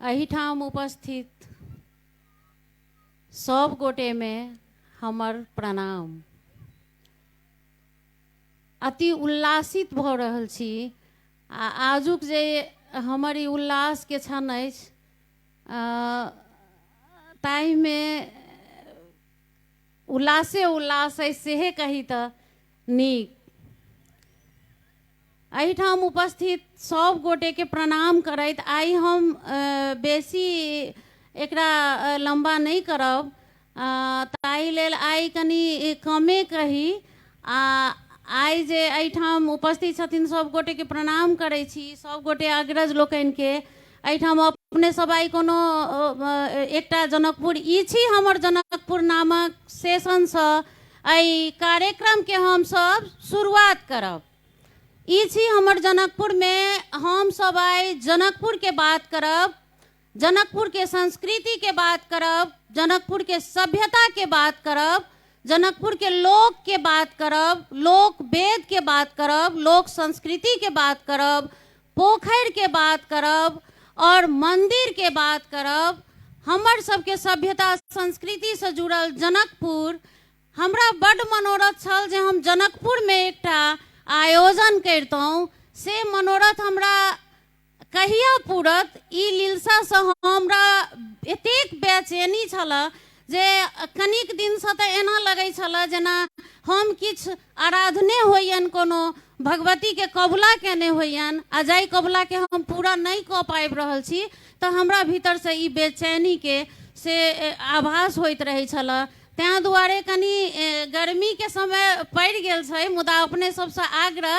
एहिठाम उपस्थित सब गोटे में हमर प्रणाम अति उल्लासित भऽ रहल छी आ आजुक जे हमर ई उल्लास के क्षण अछि ताहिमे उल्लासे उल्लास अछि सेहे कही तऽ नीक एहिठाम उपस्थित सब गोटे के प्रणाम करैत आइ हम बेसी एकरा लम्बा नहि करब ताहि लेल आइ कनि कमे कही आ आइ जे एहिठाम उपस्थित छथिन सभ गोटेके प्रणाम करै छी सभ गोटे अग्रज लोकनिके एहिठाम अपने सभ आइ कोनो एकटा जनकपुर ई छी हमर जनकपुर नामक सेशनसँ एहि कार्यक्रमके हमसभ शुरुआत करब ई छी हमर जनकपुरमे हमसभ आइ जनकपुरके बात करब जनकपुर के संस्कृति के बात करब जनकपुर के सभ्यता के बात करब जनकपुर के लोक के बात करब लोक वेद के बात करब लोक संस्कृति के बात करब पोखरि के बात करब और मंदिर के बात करब हमर सबके सभ्यता संस्कृति से जुड़ल जनकपुर हमरा बड मनोरथ छल जे हम जनकपुर में एकटा आयोजन करितहुँ से मनोरथ हमरा कहिया पूरत ई लीलसासँ हमरा एतेक बेचैनी छलए जे कनिक दिनसँ तऽ एना लगैत छलए जेना हम किछु आराधने होइयनि कोनो भगवतीके कबुला केने होइयनि आ जाहि कबुलाके हम पूरा नहि कऽ पाबि रहल छी तऽ हमरा भीतरसँ ई बेचैनीके से आभास होइत रहै छलए ताहि दुआरे कनि गर्मीके समय पड़ि गेल छै मुदा अपने सभसँ आग्रह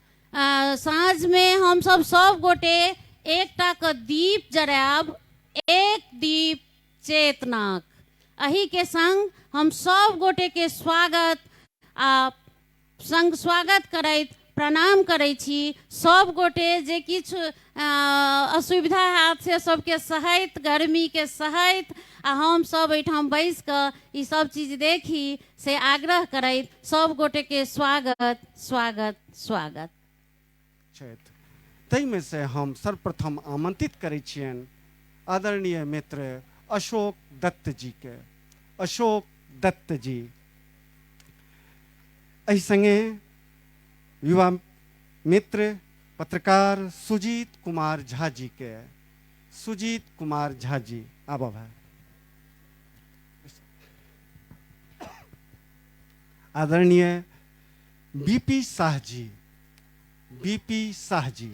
आ साँझमे हमसभ सभ गोटे एकटा कऽ दीप जरायब एक दीप चेतनाक अही के संग हम सभ गोटे के स्वागत आ संग स्वागत करैत प्रणाम करै छी सभ गोटे जे किछु असुविधा हैत से सबके सहैत गर्मीके सहैत आ हमसभ एहिठाम बैस कऽ ई सब चीज देखी से आग्रह करैत सब गोटेके स्वागत स्वागत स्वागत छथि ताहिमे से हम सर्वप्रथम आमंत्रित करै छियनि आदरणीय मित्र अशोक दत्त जी के अशोक दत्त जी एहि संगे युवा मित्र पत्रकार सुजीत कुमार झा जी के सुजीत कुमार झा जी आब भाई आदरणीय बीपी शाह जी बीपी शाह जी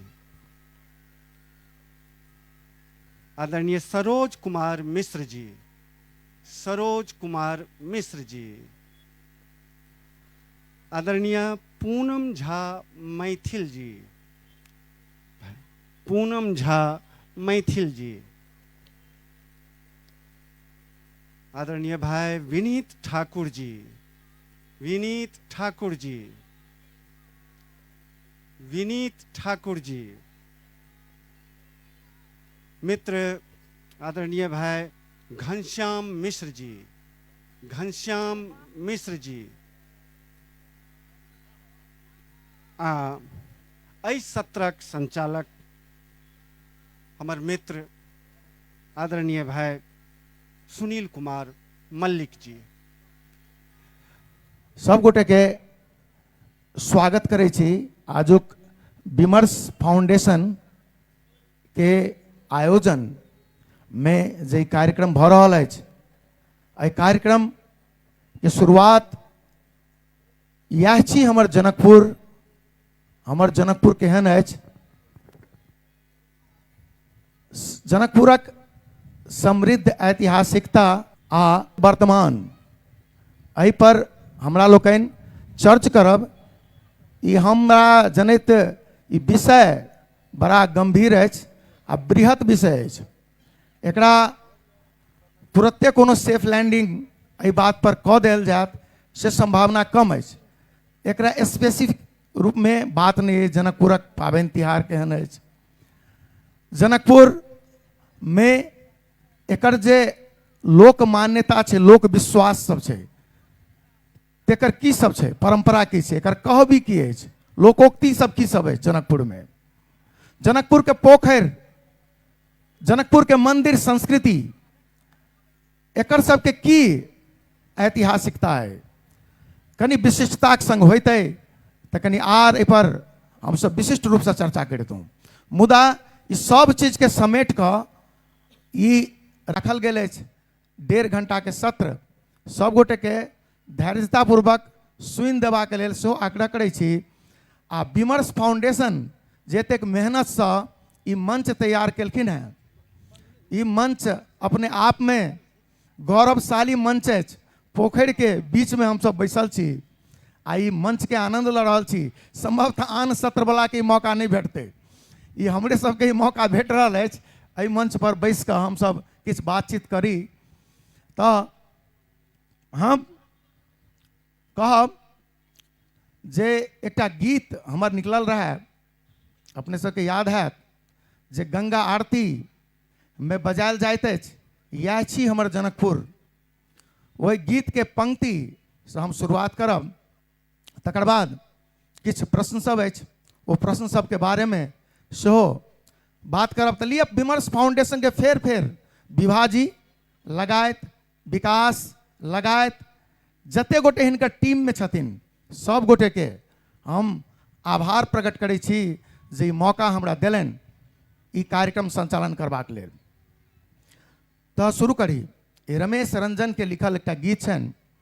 आदरणीय सरोज कुमार मिश्र जी सरोज कुमार मिश्र जी आदरणीय पूनम झा मैथिल जी पूनम झा मैथिल जी आदरणीय भाई विनीत ठाकुर जी विनीत ठाकुर जी विनीत ठाकुर जी मित्र आदरणीय भाई घनश्याम मिश्र जी घनश्याम मिश्र जी आ एहि सत्रक संचालक हमर मित्र आदरणीय भाई सुनील कुमार मल्लिक जी सब गोटे के स्वागत करे छी आजुक विमर्श फाउंडेशन के आयोजन मे जे कार्यक्रम भऽ रहल अछि एहि कार्यक्रम के शुरुआत इएह छी हमर जनकपुर हमर जनकपुर केहन अछि स- जनकपुरक समृद्ध ऐतिहासिकता आ वर्तमान एहि पर हमरा लोकनि चर्च करब ई हमरा जनैत ई विषय बड़ा गंभीर अछि आ बृहत विषय अछि एकरा तुरते कोनो सेफ लैंडिंग एहि बात पर कऽ देल जायत से संभावना कम अछि एकरा स्पेसिफिक रूपमे बात नहि अछि जनकपुरक पाबनि तिहार केहन अछि जनकपुरमे एकर जे लोक मान्यता छै लोक विश्वास सब छै तेकर की सब छै परम्परा की छै एकर कहबी की अछि लोकोक्ति सब की सब अछि जनकपुरमे जनकपुरके पोखरि जनकपुरके मन्दिर संस्कृति एकर सबके की ऐतिहासिकता अइ कनि विशिष्टताक सङ्ग होइतै तऽ कनि आर एहिपर हमसब विशिष्ट रूपसँ चर्चा करितहुँ मुदा ई सब चीजके समेट कऽ ई रखल गेल अछि डेढ़ घंटा के सत्र सब गोटे के धैर्यता पूर्वक सुनि देबा के लेल सेहो आग्रह करै छी आ विमर्श फाउंडेशन जतेक मेहनत से ई मंच तैयार केलखिन हैं ई मंच अपने आप में गौरवशाली मंच अछि पोखरि के बीच में हमसब बैसल छी आ ई मंच के आनंद लऽ रहल छी संभवतः आन सत्र वाला के ई मौका नहि भेटतै ई हमरे सबके ई मौका भेट रहल अछि एहि मंच पर बैस कऽ हमसब किछु बातचीत करी तऽ हम कहब जे एकटा गीत हमर निकलल रहए अपने सबके याद हैत जे गंगा आरती मे बजायल जाइत अछि इएह छी हमर जनकपुर ओहि गीतके पंक्ति से हम शुरुआत करब तकर बाद किछु प्रश्न सब अछि ओ प्रश्न सबके बारेमे सेहो बात करब तऽ लिअ विमर्श फाउंडेशनके फेर फेर विभाजी लगायत विकास लगायत जते गोटे हिनकर टीममे छथिन सब गोटेके हम आभार प्रकट करै छी जे ई मौका हमरा देलनि ई कार्यक्रम संचालन करबाक लेल तऽ शुरू करी ई रमेश रंजनके लिखल एकटा गीत छनि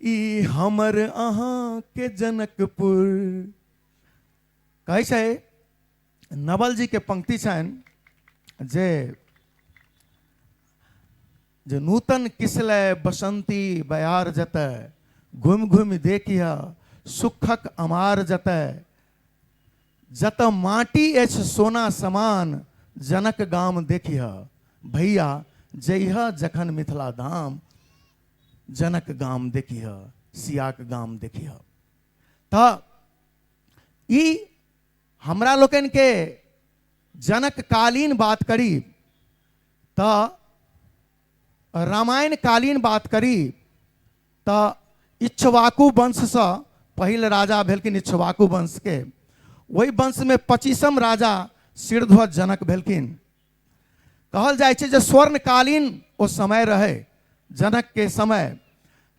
ई हमर अहाँ के जनकपुर कहै छै नवल जी के पंक्ति छनि जे जे नूतन किसले बसंती बयार जतऽ घुमि घुमि देखिह सुखक अमार जतऽ जतऽ माटी अछि सोना समान जनक गाम देखिह भैया जइह जखन मिथिला धाम जनक गाम देखिह सियाक गाम देखिह तऽ ई हमरा लोकनि के जनक कालीन बात करी तऽ रामायण कालीन बात करी तऽ इच्छवाकु वंशसँ पहिल राजा भेलखिन इच्छवाकु वंशके ओहि वंशमे पच्चीसम राजा शिरध्वज जनक भेलखिन कहल जाइ छै जे स्वर्णकालीन ओ समय रहै जनकके समय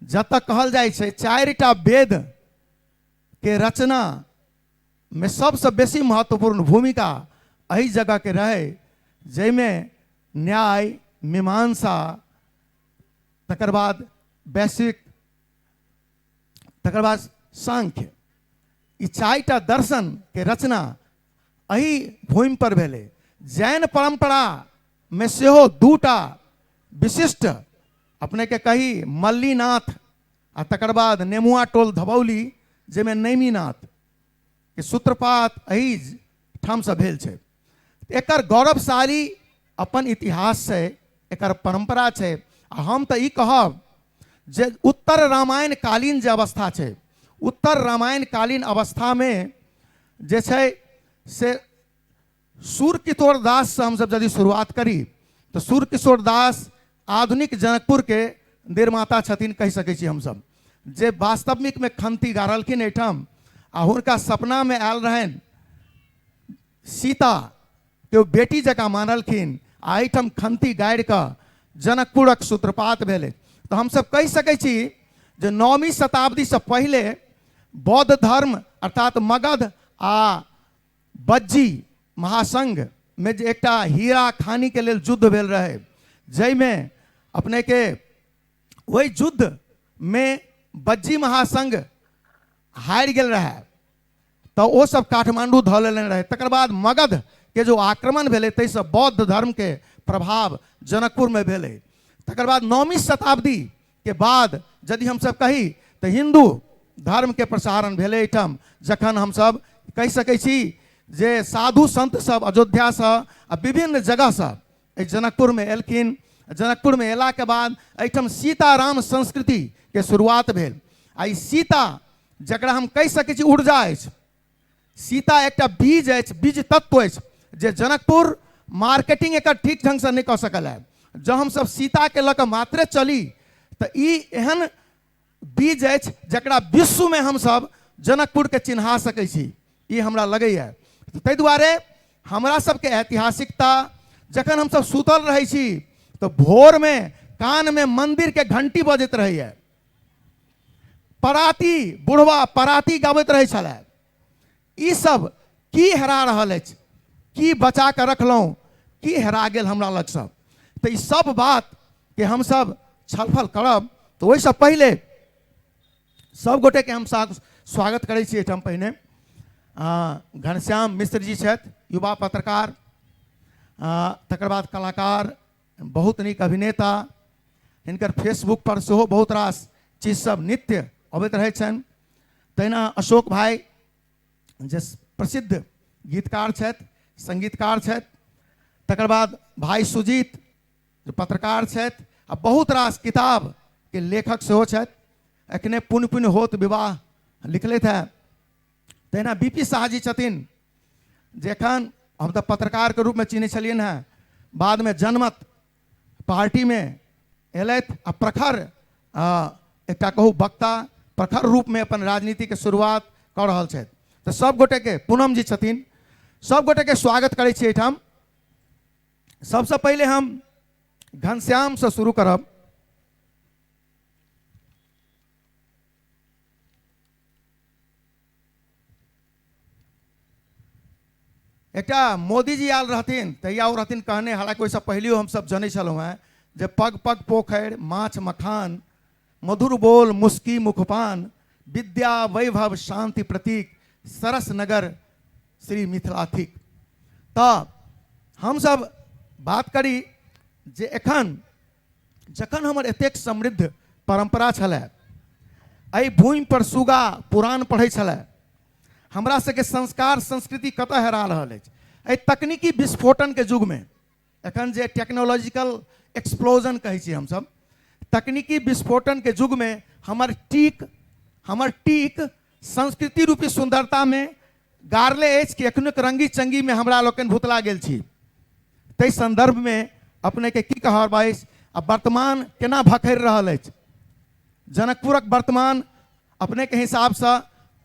जतऽ कहल जाइ छै चारिटा वेदके रचनामे सबसँ बेसी महत्वपूर्ण भूमिका एहि जगहके रहै जाहिमे न्याय मीमांसा तकर बाद वैश्विक तकर बाद सांख्य ई चारिटा दर्शनके रचना एहि भूमि पर भेले जैन परंपरा में सेहो दूटा विशिष्ट अपने के कही मल्लीनाथ आ तकर बाद नेमुआ टोल धबौली जाहिमे नैमीनाथ के सूत्रपात एहि ठामसँ भेल छै एकर गौरवशाली अपन इतिहास छै एकर परंपरा छै आ हम तऽ ई कहब जे उत्तर रामायण कालीन जे अवस्था छै उत्तर रामायण कालीन अवस्थामे जे छै से सूर किशोर दास से हमसब यदि शुरुआत करी तऽ सूर किशोर दास आधुनिक जनकपुर के निर्माता छथिन कहि सकै छी हमसब जे वास्तविक में खंती गाड़लखिन एहिठाम आ हुनका सपना में आयल रहनि सीता तऽ ओ बेटी जकाँ मानलखिन आ एहिठाम खन्ती गाड़ि कऽ जनकपुरक सूत्रपात भेलै तऽ हमसभ कहि सकै छी जे नौमी शताब्दीसँ पहिले बौद्ध धर्म अर्थात मगध आ बज्जी महासंघमे जे एकटा हीरा खानीके लेल युद्ध भेल रहै जाहिमे अपनेके ओहि युद्धमे बज्जी महासंघ हारि गेल रहए तऽ ओ सब काठमांडू धऽ लेने रहै तकर बाद मगध के जो आक्रमण भेलै ताहिसँ बौद्ध धर्म के प्रभाव जनकपुर में भेलै तकर बाद नौमी शताब्दी के बाद यदि हमसब कही तऽ हिंदू धर्म के प्रसारण भेलै एहिठाम जखन हमसब कहि सकै छी जे साधु संत सब अयोध्या से आ विभिन्न जगह से एहि जनकपुरमे एलखिन जनकपुरमे अयलाके बाद एहिठाम सीताराम संस्कृतिके शुरुआत भेल आ ई सीता जकरा हम कहि सकै छी ऊर्जा अछि सीता एकटा बीज अछि बीज तत्व अछि जे जनकपुर मार्केटिंग एकर ठीक ढङ्गसँ नहि कऽ सकल है जँ हमसभ सीताके लऽ कऽ मात्रे चली तऽ ई एहन बीज अछि जकरा विश्वमे हमसभ जनकपुरके चिन्हा सकै छी ई हमरा लगैए ताहि दुआरे हमरा सभके ऐतिहासिकता जखन हमसभ सुतल रहै छी तऽ भोरमे कानमे मन्दिरके घण्टी बजैत रहैए पराती बुढ़वा पराती गाबैत रहै छलै ई सभ की हेरा रहल अछि की बचा कऽ रखलहुँ की हेरा गेल हमरा लगसँ तऽ ई सभ बातके हमसभ छलफल करब तऽ ओहिसँ पहिले सभ गोटेके हम सा- स्वागत करै छी एहिठाम पहिने आ, घनश्याम मिश्र जी छथि युवा पत्रकार आ, तकर बाद कलाकार बहुत नीक अभिनेता हिनकर फेसबुक पर सेहो बहुत रास चीज सब नित्य अबैत रहै छनि तहिना अशोक भाई जे प्रसिद्ध गीतकार छथि संगीतकार छथि तकर बाद भाई सुजीत जे पत्रकार छथि आ बहुत रास किताब के लेखक सेहो छथि एखने पुण्य पुण्य होत विवाह लिखलथि है तहिना बी पी शाह जी छथिन जे एखन हम तऽ पत्रकारके रूपमे चिन्है छलियनि हेँ बादमे जनमत पार्टीमे अयलथि आ प्रखर आ, एकटा कहू वक्ता प्रखर रूपमे अपन राजनीतिके शुरुआत कऽ रहल छथि तऽ सभ गोटेके पूनम जी छथिन सभ गोटेके स्वागत करै छी एहिठाम सबसे पहले हम घनश्याम से शुरू करब एकटा मोदी जी आयल रहथिन तहिया ओ रहथिन कहने हालांकि ओहिसँ पहिलियो हमसभ जनै छलहुँ हेँ जे पग पग पोखरि माछ मखान मधुर बोल मुस्की मुखपान विद्या वैभव शांति प्रतीक सरस नगर श्री मिथिला थिक तऽ हमसभ बात करी जे एखन जखन हमर एतेक समृद्ध परम्परा छलै एहि भूमिपर सुगा पुराण पढ़ै छलै हमरा सबके संस्कार संस्कृति कतऽ हेरा रहल अछि एहि तकनीकी विस्फोटनके युगमे एखन जे टेक्नोलॉजिकल एक्सप्लोजन कहै छी हमसब तकनीकी विस्फोटनके युगमे हमर टीक हमर टीक संस्कृति रूपी सुन्दरतामे गारले अछि कि एखनो रंगी चंगी में हमरा लोकनि भुतला गेल छी ताहि संदर्भ में अपने के की कहब अछि आ वर्तमान केना भखरि रहल अछि जनकपुरक वर्तमान अपने के हिसाब से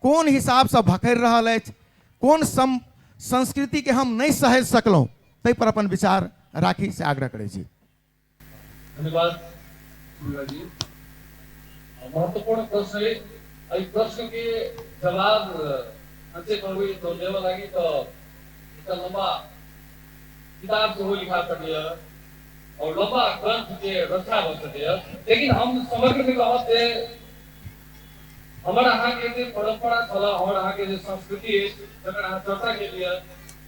कोन हिसाब से भखरि रहल अछि कोन सम संस्कृति के हम नहीं सहेज सकलहुँ ताहि पर अपन विचार राखी से आग्रह करै छी धन्यवाद पूर्णा जी महत्वपूर्ण प्रश्न अइ एहि प्रश्न के जवाब अते कहबै तऽ देबऽ लागी तऽ एकटा लम्बा किताब सेहो लिखा सकैए आओर लम्बा ग्रंथ के रचना भऽ सकैए लेकिन हम समग्र में कहब जे हमर अहाँके जे परम्परा छलऽ हमर अहाँके जे संस्कृति अछि जकर अहाँ चर्चा केलियै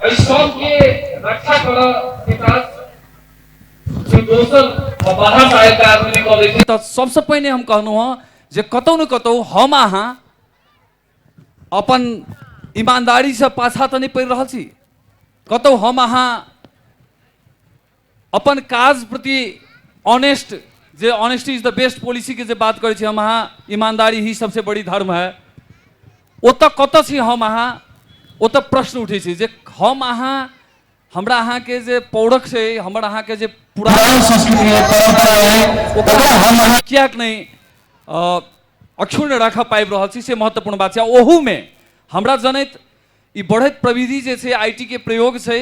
एहि सबके रक्षा करऽ के काज जे दोसर बाहर से आयल आदमी नहि कऽ लै छै तऽ सबसँ पहिने हम कहलहुँ हँ जे कतहु ने कतहु हम अहाँ अपन ईमानदारीसँ पाछा तऽ नहि पड़ि रहल छी कतहु हम अहाँ अपन काज प्रति ऑनेस्ट जे honesty is the best policy के जे बात करे छी हम अहाँ ईमानदारी ही सबसे बड़ी धर्म है ओतऽ कतऽ छी हम अहाँ ओतऽ प्रश्न उठै छै जे हम अहाँ हमरा अहाँके जे पौरख छै हमर अहाँके जे पुरान पुरान संस्कृति है परंपरा है ओकरा हम अहाँ किएक नहि अ, अक्षुण्ण राखऽ पाबि रहल छी से महत्वपूर्ण बात छै ओहूमे हमरा जनैत ई बढ़ैत प्रविधि जे छै आई के प्रयोग छै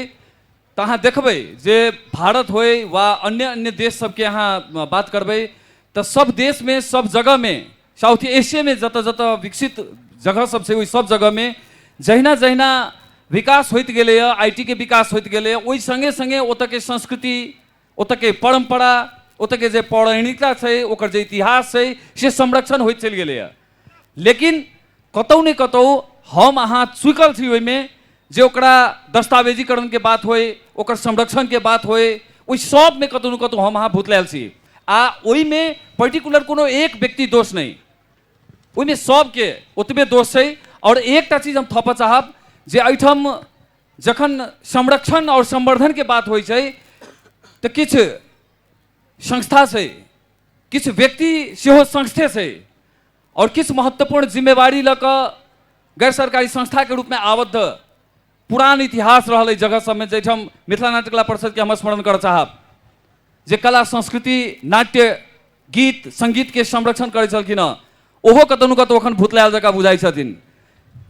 तऽ अहाँ देखबै जे भारत होय वा अन्य अन्य देश सबके अहाँ अ, बात करबै तऽ सब देशमे सब जगहमे साउथ एशियामे जतऽ जतऽ विकसित जगह सब छै ओहि सब जगहमे जहिना जहिना विकास होइत गेलैए आई के विकास होइत गेलैए ओहि सङ्गे सङ्गे ओतऽके संस्कृति ओतऽके परम्परा ओतऽके जे पौराणिकता छै ओकर जे इतिहास छै से संरक्षण होइत चलि गेलैए लेकिन कतहु ने कतहु हम अहाँ चुकल छी ओहिमे जे ओकरा दस्तावेजीकरणके बात होय ओकर संरक्षणके बात होय ओहि सभमे कतहु ने कतहु हम अहाँ भुतलायल छी आ ओहिमे पर्टिकुलर कोनो एक व्यक्ति दोष नहि ओहिमे सभके ओतबे दोष छै आओर एकटा चीज हम थपऽ चाहब जे एहिठाम जखन संरक्षण और संवर्धन के बात होइ छै तऽ किछु संस्था छै किछु व्यक्ति सेहो संस्थे छै और किछु महत्वपूर्ण जिम्मेवारी लऽ कऽ गैर सरकारी संस्था के रूप में आबद्ध पुरान इतिहास रहल एहि जगह सबमे जाहिठाम मिथिला नाट्य कला परिषद के हम स्मरण करऽ चाहब जे कला संस्कृति नाट्य गीत सङ्गीतके संरक्षण करै छलखिन हँ ओहो कतहु ने कतहु एखन भुतलायल जकाँ बुझाइ छथिन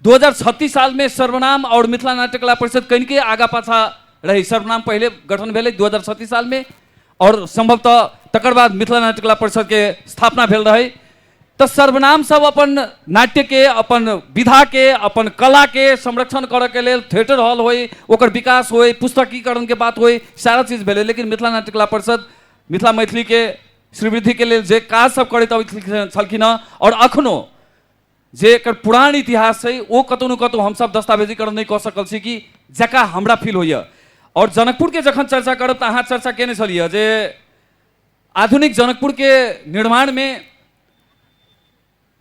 दू हजार छत्तीस सालमे सर्वनाम आओर मिथिला नाट्य कला परिषद कनिके आगा पाछा रहै सर्वनाम पहिले गठन भेलै दू हजार छत्तीस सालमे आओर सम्भवतः तकर बाद मिथिला नाट्य कला परिषदके स्थापना भेल रहै तऽ सर्वनाम सब अपन नाट्यके अपन विधाके अपन कलाके संरक्षण करऽके लेल थिएटर हॉल होइ ओकर विकास होइ पुस्तकीकरणके बात होइ सारा चीज भेलै लेकिन मिथिला नाट्य कला परिषद मिथिला मैथिली के श्रीवृद्धि के लिए जे काज सब करैत अबैत छलखिन हँ और अखनो जे एकर पुरान इतिहास है वो कतौ न कतौ हम सब दस्तावेजीकरण नहीं कऽ सकल छी कि जका हमरा फील होइए और जनकपुर के जखन चर्चा करब तऽ अहाँ चर्चा केने छलियै जे आधुनिक जनकपुर के निर्माण में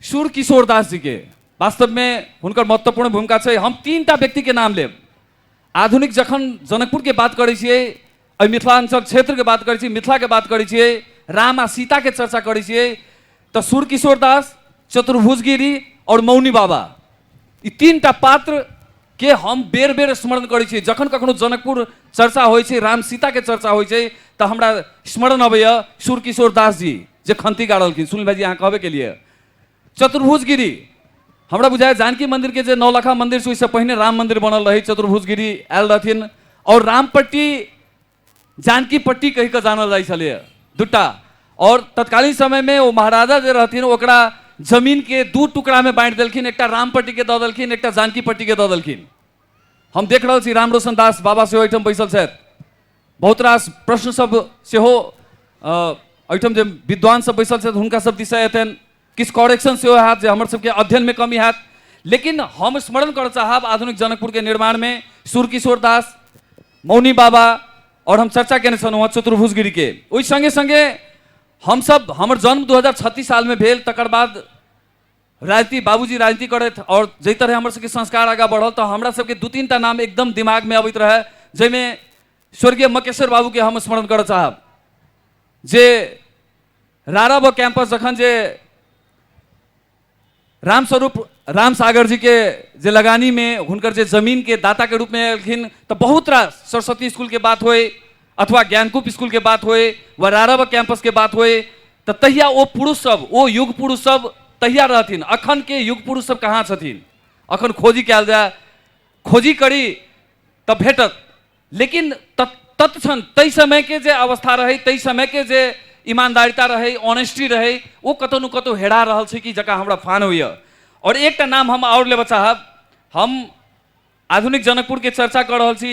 सूर किशोर दास जी के वास्तव में हुनकर महत्वपूर्ण भूमिका छै हम तीन टा व्यक्ति के नाम लेब आधुनिक जखन जनकपुर के बात करै छियै एहि मिथिलाञ्चल क्षेत्र के बात करै छियै मिथिला के बात करै छियै राम आ सीता के चर्चा करै छियै तऽ सूर किशोर दास चतुर्भुज गिरी और मौनी बाबा ई तीन टा पात्र के हम बेर बेर स्मरण करै छियै जखन कखनो जनकपुर चर्चा होइ छै राम सीता के चर्चा होइ छै तऽ हमरा स्मरण अबैया सूर किशोर दास जी जे खंती गाड़लखिन सुनील भाईजी अहाँ कहबे केलिए चतुर्भुज गिरी हमरा बुझाए जानकी मंदिर के जे नौलखा मंदिर से ओहिसँ पहिने राम मंदिर बनल रही चतुर्भुज गिरी आयल रहथिन और रामपट्टी जानकी पट्टी कहि कऽ जानल जाइ छलै दूटा और तत्कालीन समय में ओ महाराजा जे रहथिन ओकरा जमीन के दू टुकड़ा में बांटि देलखिन एकटा रामपट्टी के दऽ देलखिन एकटा जानकी पट्टी के दऽ देलखिन हम देख रहल छी राम रोशन दास बाबा सेहो एहिठाम बैसल छथि बहुत रास प्रश्न सब सेहो अ, एहिठाम जे विद्वान सब बैसल छथि हुनका सब दिशा एतनि किछु करेक्शन सेहो हैत जे हमर सबके अध्ययन में कमी हैत लेकिन हम स्मरण करऽ चाहब आधुनिक जनकपुर के निर्माण में सुरकिशोर दास मौनी बाबा और हम चर्चा केने छलहुँ हँ चतुर्भुज गिरी के ओहि संगे संगे हमसब हमर जन्म 2036 साल में भेल तकर बाद राजनीति बाबूजी राजनीति करत और जै तरह हमर सबके संस्कार आगा बढ़ल तो हमरा सबके दू तीन टा नाम एकदम दिमाग में अबैत रहे जैमे स्वर्गीय मकेश्वर बाबू के हम स्मरण करऽ चाहब जे रारा व कैंपस जखन जे रामस्वरूप राम सागर जी के जे लगानी में हुनकर जे जमीन के दाता के रूप में एलखिन तो बहुत रास सरस्वती स्कूल के बात होए अथवा ज्ञानकूप स्कूल के बात होए व रारा व कैंपस के बात होए तऽ तहिया ओ पुरुष सब ओ युग पुरुष सब तहिया रहथिन अखन के युग पुरुष सब कहाँ छथिन अखन खोजी कयल जाय खोजी करी तऽ भेटत लेकिन तत- तत्क्षण ताहि समय के जे अवस्था रहै ताहि समय के जे ईमानदारिता रहै ऑनेस्टी रहै ओ कतौ ने कतौ हेरा रहल छै कि जकरा हमरा फान होइए आओर एकटा नाम हम आओर लेबऽ चाहब हम आधुनिक जनकपुर के चर्चा कऽ रहल छी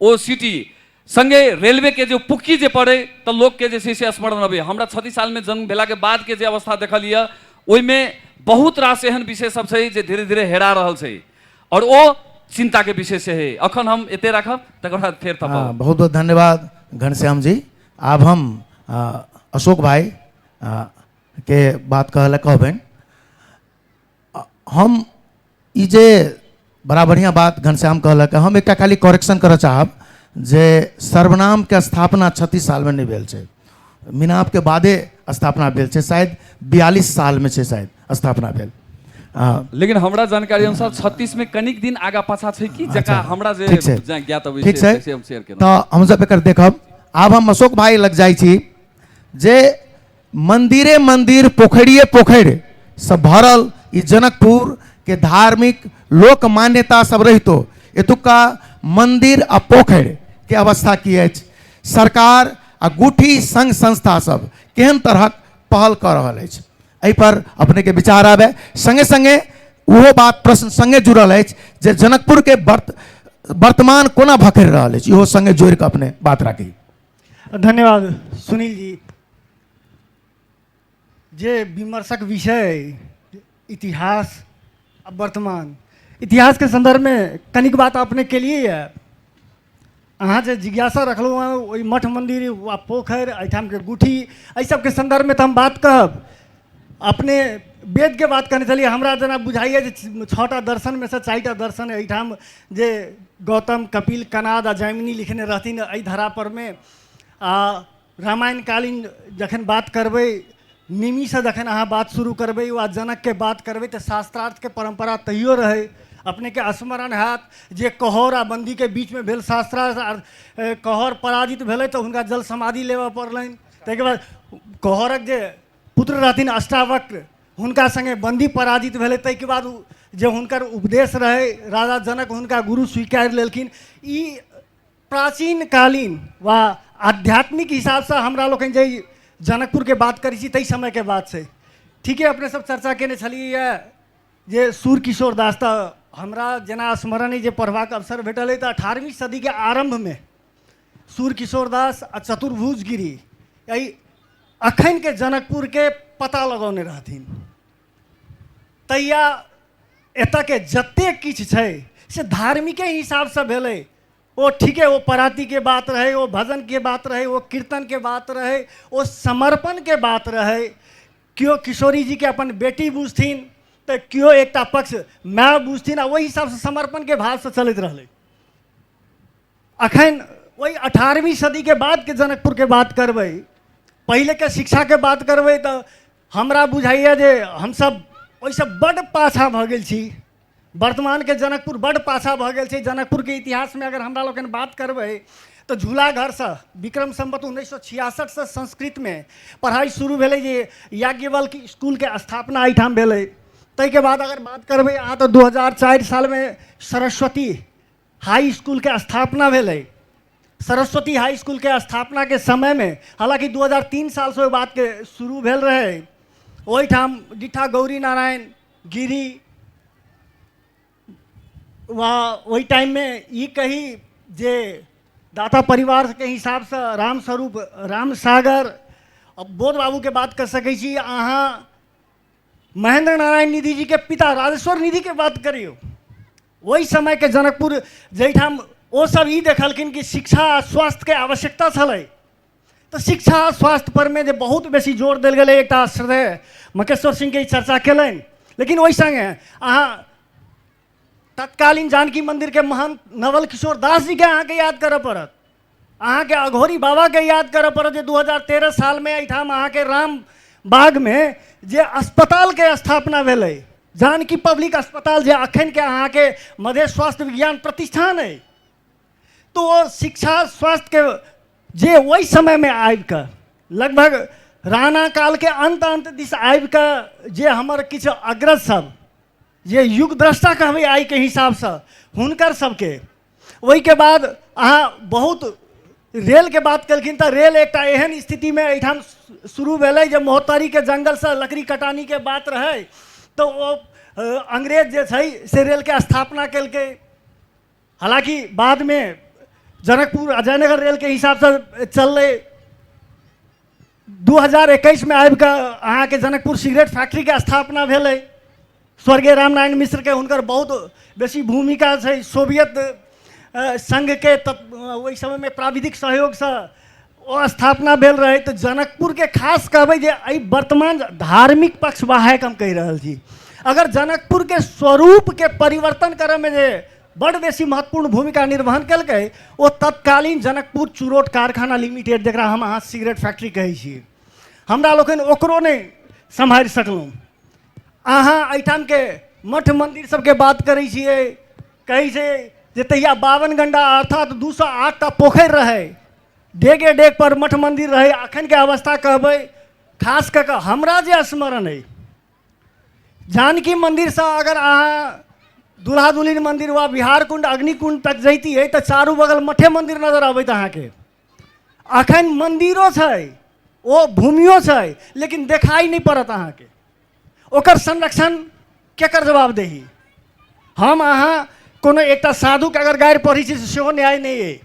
ओ सिटी संगे रेलवे के जो पुक्की जे पड़े तो लोग के जैसे से स्मरण अबे हमरा छत्तीस साल में जन्म भेला के बाद के जे अवस्था देखल यऽ ओहिमे बहुत रास एहन विषय सब छै जे धीरे धीरे हेरा रहल छै और ओ चिंता के विषय से है अखन हम एते राखब तकर बाद फेर हाँ, थपब बहुत बहुत धन्यवाद घनश्याम जी आब हम आ, अशोक भाई आ, के बात कहला कहबनि हम ई जे बड़ा बढ़िया बात घनश्याम कहलक हम एकटा खाली करेक्शन करऽ चाहब जे सर्वनाम के स्थापना छत्तीस साल में नहीं भेल छै मिनाप के बादे स्थापना भेल छै शायद बयालीस साल में छै शायद स्थापना भेल हाँ, लेकिन हमरा जानकारी अनुसार छत्तीस में कनिक दिन आगा पाछा छै कि जका अच्छा, हमरा जे ठीक छै। जे ज्ञात अबै ठीक छै छै से हम शेयर केलहुँ तऽ हमसब एकर देखब आब हम अशोक भाई लग जाइ छी जे मंदिरे मंदिर पोखरिए पोखरि से भरल ई जनकपुर के धार्मिक लोक मान्यता सब रहितो एतुका मंदिर आ पोखरि के अवस्था की अछि सरकार आ गुठी संघ संस्था सब केहन तरहक पहल कऽ रहल अछि एहि पर अपने के विचार आबे संगे संगे ओहो बात प्रश्न संगे जुड़ल अछि जे जनकपुर के वर्त वर्तमान कोना भखरि रहल अछि इहो संगे जोड़ि कऽ अपने बात राखी धन्यवाद सुनील जी जे विमर्शक विषय इतिहास आ वर्तमान इतिहास के संदर्भ में कनिक बात अपने के लिए है अहाँ जे जिज्ञासा रखलहुँ हँ ओहि मठ मन्दिर वा पोखरि एहिठामके गुठी एहि सबके सन्दर्भमे तऽ हम बात कहब अपने वेदके बात कने छलियै हमरा जेना बुझाइए जे छओ टा दर्शनमे सँ चारि टा दर्शन एहिठाम जे गौतम कपिल कनाद आ जैमिनी लिखने रहथिन एहि धरापरमे आ रामायणकालीन जखन बात करबै निमीसँ जखन अहाँ बात शुरू करबै वा जनकके बात करबै तऽ शास्त्रार्थके परम्परा तैयो रहै अपनेके स्मरण हैत जे कहौर आ बन्दीके बीचमे भेल शास्त्रार्थ आ कहौर पराजित भेलै तऽ हुनका जल समाधि लेबऽ पड़लनि ताहिके बाद कहौरक जे पुत्र रहथिन अष्टावक्र हुनका संगे बंदी पराजित भेलै ताहिके बाद जे हुनकर उपदेश रहै राजा जनक हुनका गुरु स्वीकार लेलखिन ई प्राचीन कालीन वा आध्यात्मिक हिसाबसँ हमरा लोकनि जे जनकपुरके बात करै छी ताहि समयके बात छै ठीके अपने सब चर्चा केने छलियै जे सूर किशोर दास तऽ हमरा जेना स्मरण अइ जे पढ़बाक अवसर भेटल अइ तऽ अठारहवीं सदीके आरम्भमे सूर्य किशोर दास आ चतुर्भुज गिरी एहि अखनके जनकपुरके पता लगौने रहथिन तहिया एतऽके जतेक किछु छै से धार्मिके हिसाबसँ भेलै ओ ठीके ओ परातीके बात रहै ओ भजनके बात रहै ओ कीर्तनके बात रहै ओ समर्पणके बात रहै केओ किशोरीजीके अपन बेटी बुझथिन तऽ केओ एकटा पक्ष माय बुझथिन आ ओहि हिसाबसँ समर्पणके भावसँ चलैत रहलै अखन वही अठारहवीं सदी के बाद के जनकपुर के बात करबै पहले के शिक्षा के बात करबै तो हमरा बुझाइए जे हम सब ओहिसँ बड पाछा भऽ गेल छी वर्तमान के जनकपुर बड पाछा भऽ गेल छै जनकपुर के इतिहास में अगर हमरा लोकनि बात करबै तो झूला घर से विक्रम संबत उन्नैस सौ छियासठ से संस्कृत में पढ़ाई शुरू भेलै जे याज्ञवल्क स्कूल के स्थापना एहिठाम भेलै ताहिके बाद अगर बात करबै अहाँ तऽ दू हजार चारि सालमे सरस्वती हाई स्कूलके स्थापना भेलै सरस्वती हाई स्कूलके स्थापनाके समयमे हालाँकि दू हजार तीन सालसँ ओहि बातके शुरू भेल रहै ओहिठाम डिठा गौरी नारायण गिरी वा ओहि टाइममे ई कही जे दाता परिवारके हिसाबसँ रामस्वरूप रामसागर बोध बाबूके बात कऽ सकै छी अहाँ महेंद्र नारायण निधि जीके पिता राजेश्वर निधिके बात करियौ ओहि समयके जनकपुर जाहिठाम ओसभ ई देखलखिन कि शिक्षा आ स्वास्थ्यके आवश्यकता छलै तऽ शिक्षा आ स्वास्थ्य परमे जे बहुत बेसी जोर देल गेलै एकटा श्रेय मकेश्वर सिंहके ई चर्चा केलनि लेकिन ओहि सङ्गे अहाँ तत्कालीन जानकी मन्दिरके महान नवल किशोर दास जीके अहाँके याद करऽ पड़त अहाँ के अघोरी बाबा के याद करऽ पड़त जे 2013 साल में एहिठाम अहाँ के राम बाग में जे अस्पताल के स्थापना भेलै जानकी पब्लिक अस्पताल जे अखन के अहाँ के मधेश स्वास्थ्य विज्ञान प्रतिष्ठान अइ तो ओ शिक्षा स्वास्थ्य के जे ओहि समय में आबि कऽ लगभग राणा काल के अंत अंत दिस आबि कऽ जे हमर किछु अग्रज सब जे युग द्रष्टा कहबै आइ के हिसाब सँ हुनकर सबके ओहिके बाद अहाँ बहुत रेलके बात केलखिन तऽ रेल एकटा एहन स्थितिमे एहिठाम शुरू भेलै जे मोहतरीके जङ्गलसँ लकड़ी कटानीके बात रहै तऽ ओ अंग्रेज जे छै से रेलके स्थापना केलकै हालाँकि बादमे जनकपुर आ जयनगर रेलके हिसाबसँ चललै दू हजार एकैसमे आबि कऽ अहाँके जनकपुर सिगरेट फैक्ट्रीके स्थापना भेलै स्वर्गीय रामनारायण मिश्रके हुनकर बहुत बेसी भूमिका छै सोवियत सङ्घके ओहि समयमे प्राविधिक सहयोगसँ ओ स्थापना भेल रहै तऽ जनकपुरके खास कहबै जे एहि वर्तमान धार्मिक पक्ष वाहक हम कहि रहल छी अगर जनकपुरके स्वरूपके परिवर्तन करयमे जे बड़ बेसी महत्वपूर्ण भूमिका निर्वहन कलकै ओ तत्कालीन जनकपुर चुरोट कारखाना लिमिटेड जकरा हम अहाँ सिगरेट फैक्ट्री कहै छी हमरा लोकनि ओकरो नहि सम्हारि सकलहुँ अहाँ एहिठामके मठ मन्दिर सबके बात करै छियै कहै छै जे तहिया बावन गंडा अर्थात दू सए आठटा पोखरि रहै डेगे डेग पर मठ मन्दिर रहै अखनके अवस्था कहबै खास कऽ कऽ हमरा जे स्मरण अइ जानकी मन्दिरसँ अगर अहाँ दुल्हा दुल्हिन मन्दिर वा बिहार कुण्ड अग्निकुण्ड तक जैतियै तऽ चारू बगल मठे मन्दिर नजर अबैत अहाँके अखन मन्दिरो छै ओ भूमियो छै लेकिन देखाइ नहि पड़त अहाँके ओकर संरक्षण केकर जवाबदेही हम अहाँ कोनो एकटा साधुके अगर गाड़ि पढ़ै छी से सेहो न्याय नहि अइ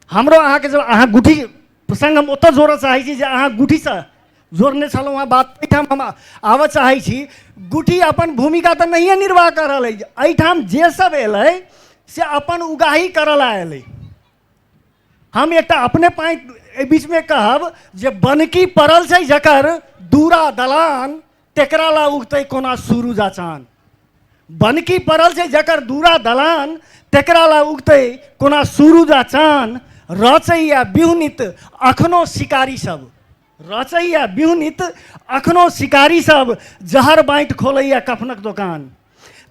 हमरो अहाँके जब अहाँ गुठी प्रसङ्ग हम ओतऽ जोड़ऽ चाहै छी जे अहाँ गुठीसँ जोड़ने छलहुँ हँ बात एहिठाम हम आबऽ चाहै छी गुटी अपन भूमिका तऽ नहिए निर्वाह कऽ रहल अछि एहिठाम जे सब एलै से अपन उगाही करऽ ला एलै हम एकटा अपने पाइ एहि बीचमे कहब जे बनकी पड़ल छै जकर दूरा दलान तेकरा ला उगतै कोना सूरज आ चान बनकी पड़ल छै जकर दूरा दलान तेकरा ला उगतै कोना सूरज आ चान रचैया बिहुनित अखनो शिकारी सब रचैया बिहुनित अखनो शिकारी सब जहर बाँटि खोलैया कफनक दोकान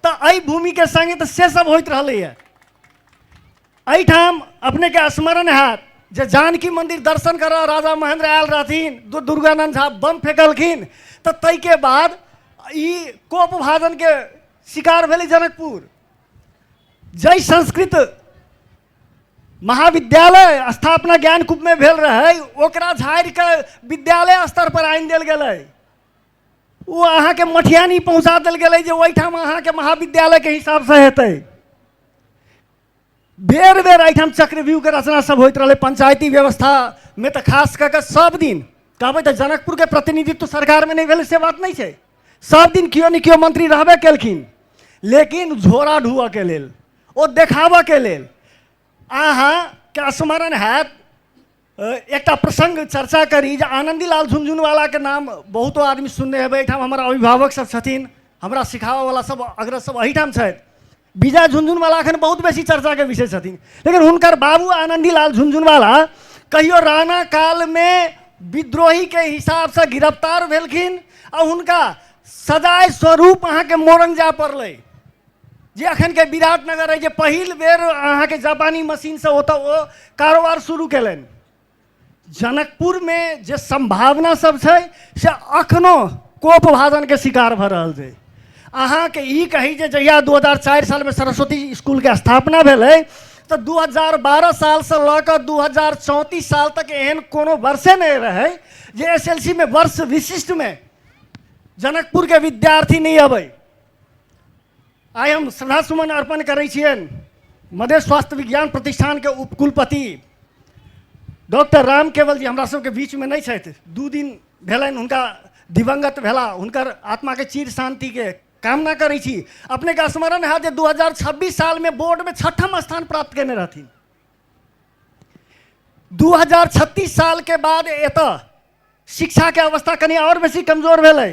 तऽ एहि भूमिके सङ्गे तऽ से सब होइत रहलैए एहिठाम अपनेके स्मरण हैत जे जानकी मन्दिर दर्शन करऽ राजा महेन्द्र आयल रहथिन दु- दुर्गानन्द झा बम फेंकलखिन तऽ ताहिके बाद ई कोप भाजनके शिकार भेलै जनकपुर जय संस्कृत महाविद्यालय स्थापना ज्ञान कुप में भेल रहे ओकरा झाड़ के विद्यालय स्तर पर आनि दिल गए वो अहाँ के मठियानी पहुँचा दिल गए जो ओहिठाम अहाँ के महाविद्यालय के हिसाब से हेतै बेर बेर एहिठाम चक्रव्यूह के रचना सब होइत रहे पंचायती व्यवस्था में तो खास कऽ कऽ सब दिन कहबै तऽ जनकपुर के प्रतिनिधित्व सरकार में नहीं भेल से बात नहीं छै सब दिन केओ ने केओ मंत्री रहबे केलखिन लेकिन झोरा ढुअ के लेल ओ देखाबऽके लेल अहाँके स्मरण हैत अ, एकटा प्रसङ्ग चर्चा करी जे आनन्दीलाल झुनझुनवालाके नाम बहुतो आदमी सुनने हेबै एहिठाम हमर अभिभावक सब छथिन हमरा सिखाबऽवला सब अग्रज सब एहिठाम छथि विजय झुनझुनवाला एखन बहुत बेसी चर्चाके विषय छथिन लेकिन हुनकर बाबू आनन्दीलाल झुनझुनवाला कहियो राणा कालमे विद्रोहीके हिसाबसँ गिरफ्तार भेलखिन आ हुनका सजाय स्वरूप अहाँके मोरन जाय पड़लै जे अखनके विराटनगर अइ जे पहिल बेर अहाँके जापानी मशीनसँ ओतऽ ओ कारोबार शुरू केलनि जनकपुरमे जे सम्भावना सब छै से अखनो कोप भाजनके शिकार भऽ रहल छै अहाँके ई कही जे जहिया दू हजार चारि सालमे सरस्वती इसकुलके स्थापना भेलै तऽ दू हजार बारह सालसँ लऽ कऽ दू हजार चौंतीस साल तक एहन कोनो वर्षे नहि रहै जे एस एल सी मे वर्ष विशिष्टमे जनकपुरके विद्यार्थी नहि अबै आइ हम श्रद्धा सुमन अर्पण करै छियनि मधेश स्वास्थ्य विज्ञान प्रतिष्ठानके उपकुलपति डॉक्टर राम केवल जी हमरा सबके बीचमे नहि छथि दू दिन भेलनि हुनका दिवंगत भेला हुनकर आत्माके चिर शान्तिके कामना करै छी अपनेके स्मरण हैत जे दू हजार छब्बीस सालमे बोर्डमे छठम स्थान प्राप्त कयने रहथिन दू हजार छत्तीस सालके बाद एतऽ शिक्षाके अवस्था कनि आओर बेसी कमजोर भेलै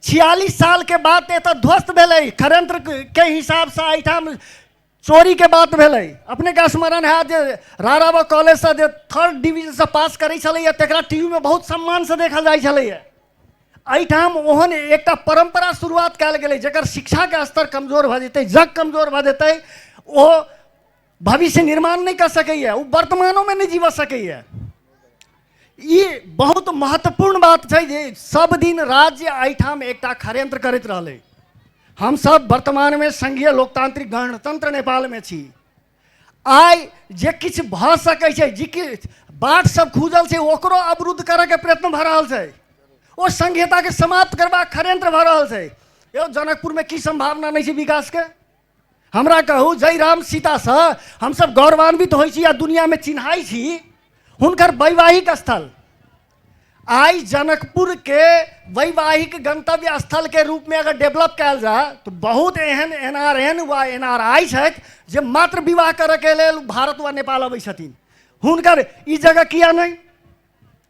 छियालिस सालके बाद एतऽ ध्वस्त भेलै षड्यंत्रके हिसाबसँ एहिठाम चोरीके बात भेलै अपनेके स्मरण हैत जे राराबा कॉलेजसँ जे थर्ड डिवीजनसँ पास करै छलैए तकरा टी वीमे बहुत सम्मानसँ देखल जाइ छलैए एहिठाम ओहन एकटा परम्परा शुरुआत कयल गेलै जकर शिक्षाके स्तर कमजोर भऽ जेतै जग कमजोर भऽ जेतै ओ भविष्य निर्माण नहीं कर सकैए ओ वर्तमानोमे नहि जीवऽ सकैए ई बहुत महत्वपूर्ण बात छै जे सब दिन राज्य एहिठाम एकटा खड़यंत्र करैत रहलै हमसभ वर्तमानमे संघीय लोकतांत्रिक गणतंत्र नेपालमे छी आइ जे किछु भऽ सकै छै जे किछु बाट सब खुजल छै ओकरो अवरुद्ध करैके प्रयत्न भऽ रहल छै ओ संघीयताके समाप्त करबाक खड़यंत्र भऽ रहल छै यौ जनकपुरमे की संभावना नहि छै विकासके हमरा कहू जय राम सीतासँ हमसभ गौरवान्वित होइ छी आ दुनियामे चिन्हाइ छी हुनकर वैवाहिक स्थल आइ जनकपुरके वैवाहिक गंतव्य स्थलके रूपमे अगर डेवलप कयल जाय तऽ बहुत एहन एन आर एन वा एन आर आई छथि जे मात्र विवाह करयके लेल भारत वा नेपाल अबै छथिन हुनकर ई जगह किया नहि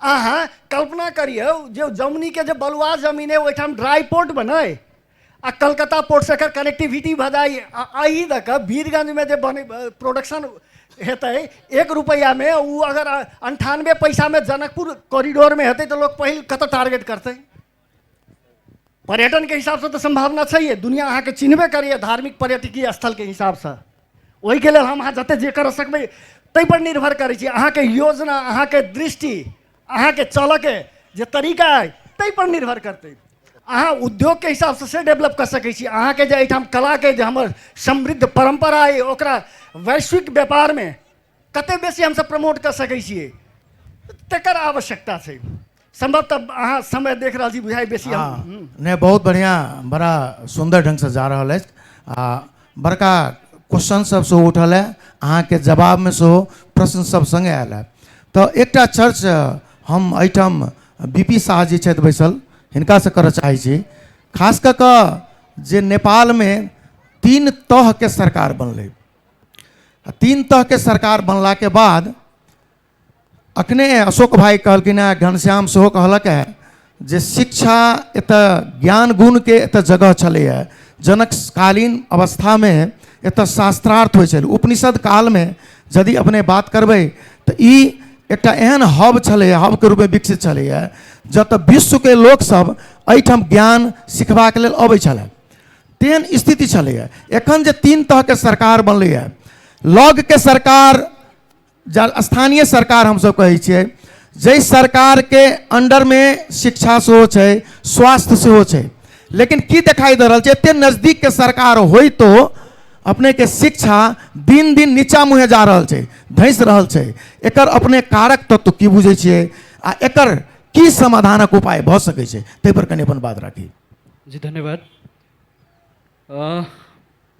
अहाँ कल्पना करियौ जे जमनीके जे बलुआ जमीन अइ ओहिठाम ड्राई पोर्ट बनै आ कलकत्ता पोर्टसँ एकर कनेक्टिविटी भऽ जाइ आ एहि दऽ कऽ वीरगंजमे जे बने प्रोडक्शन हेतै एक रुपैआमे ओ अगर अन्ठानबे पैसामे जनकपुर कॉरिडोरमे हेतै तऽ लोक पहिल कतय टारगेट करतै पर्यटनके हिसाबसँ तऽ सम्भावना छैहे दुनिआँ अहाँके चिन्हबे करैए धार्मिक पर्यटकीय स्थलके हिसाबसँ ओहिके लेल हम अहाँ जतेक जे करऽ सकबै ताहिपर निर्भर करै छी अहाँके योजना अहाँके दृष्टि अहाँके चलऽके जे तरीका अइ ताहिपर निर्भर करतै अहाँ उद्योगके हिसाबसँ से डेवलप कऽ सकै छी अहाँके जे एहिठाम कलाके जे हमर समृद्ध परम्परा अइ ओकरा वैश्विक व्यापारमे कते बेसी हमसब प्रमोट कऽ सकै छियै तकर आवश्यकता छै संभवतः अहाँ समय देख रहल छी बुझाइ बेसी हम हम्म। हम्म। हाँ, नहीं बहुत बढ़िया बड़ा सुंदर ढंग से जा रहा है आ बड़का क्वेश्चन सब से उठल है अहाँ के जवाब में से प्रश्न सब संगे आयल है तो एक चर्च हम एठाम बी पी शाह जी छथि बैसल हिनका से करऽ चाहै छी खास कऽ कऽ जे नेपाल में तीन तह के सरकार बनलै तीन तहके सरकार बनलाके बाद अखने अशोक भाई कहलखिन हँ घनश्याम सेहो कहलक है जे शिक्षा एतऽ ज्ञान गुणके एतऽ जगह छलैए जनककालीन अवस्थामे एतऽ शास्त्रार्थ होइ छलै उपनिषद कालमे यदि अपने बात करबै तऽ ई एकटा एहन हब छलैए हबके रूपमे विकसित छलैए जतऽ विश्वके लोकसभ एहिठाम ज्ञान सिखबाक लेल अबै छलै तेहन स्थिति छलैए एखन जे तीन तहके सरकार बनलैए लगके सरकार जा स्थानीय सरकार हमसभ कहै छियै जाहि सरकारके अण्डरमे शिक्षा सेहो छै स्वास्थ्य सेहो छै लेकिन की देखाइ दऽ रहल छै एतेक नजदीकके सरकार होइतो अपनेके शिक्षा दिन दिन नीचा मुँहे जा रहल छै धसि रहल छै एकर अपने कारक तत्व की बुझै छियै आ एकर की समाधानक उपाय भऽ सकै छै ताहिपर कनि अपन बात राखी जी धन्यवाद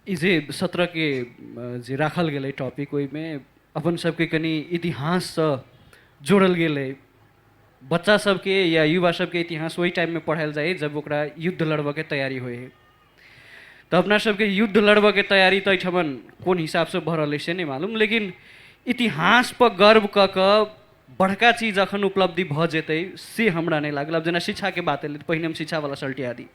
ई जे सत्रके जे राखल गेलै टॉपिक ओहिमे अपन सबके कनि इतिहाससँ जोड़ल गेलै बच्चा सबके या युवा सबके इतिहास ओहि टाइममे पढ़ायल जाए जब ओकरा युद्ध लड़बऽके तैयारी होइ है तऽ अपना सबके युद्ध लड़बऽके तैयारी तऽ एहिठाम कोन हिसाबसँ भऽ रहलै से नहि मालूम लेकिन इतिहासपर गर्व कऽ कऽ बड़का चीज जखन उपलब्धि भऽ जेतै से हमरा नहि लागल आब जेना शिक्षाके बात एलै तऽ पहिने हम शिक्षावला सल्टिया दी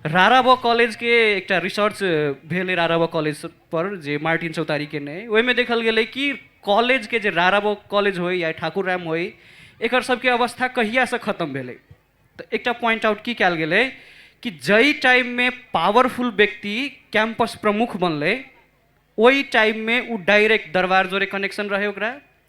राराबो कॉलेजके एकटा रिसर्च भेलै राराबो कॉलेज पर जे मार्टिन चौतारी केने अइ ओहिमे देखल गेलै कि कॉलेजके जे राराबो कॉलेज होइ या ठाकुर राम होइ एकर सबके अवस्था कहियासँ खतम भेलै तऽ एकटा पॉइंट आउट की कयल गेलै कि जाहि टाइममे पावरफुल व्यक्ति कैंपस प्रमुख बनलै ओहि टाइममे ओ डायरेक्ट दरबार जोरे कनेक्शन रहै ओकरा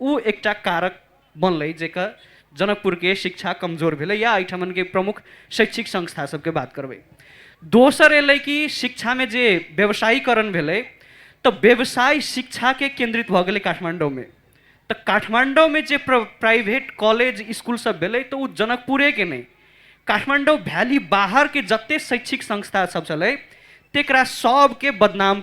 ऊ एकटा कारक बनलै जेकर जनकपुरके शिक्षा कमजोर भेलै या एहिठामनके प्रमुख शैक्षिक संस्था सबके बात करबै दोसर एलै कि शिक्षामे जे व्यवसायीकरण भेलै तऽ व्यवसाय शिक्षाके केन्द्रित भऽ गेलै काठमाण्डौमे तऽ काठमाण्डौमे जे प्राइवेट कॉलेज स्कूल सब भेलै तऽ ओ जनकपुरेके नहि काठमाण्डौ भ्याली बाहरके जते शैक्षिक संस्था सब छलै तेकरा सबके बदनाम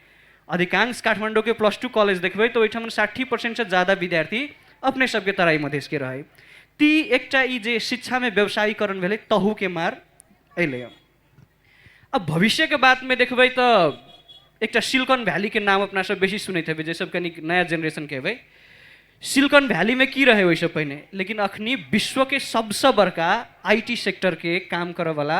अधिकांश काठमांडू के प्लस टू कॉलेज देखबे तो ओहिठाम साठी परसेंट से ज्यादा विद्यार्थी अपने सबके तराई मधेश के रहे ती एकटा ई जे शिक्षा में व्यवसायीकरण भेले तहू के मार अले अब भविष्य के बात में देखबे तो एकटा सिलिकॉन वैली के नाम अपना सब बेसी सुनैत हेबै जे सब कनी नया जनरेशन के हेबै सिलिकॉन वैली में की रहे ओहिसँ पहिने लेकिन अखनी विश्व के सबसे बड़का आईटी सेक्टर के काम करऽ वाला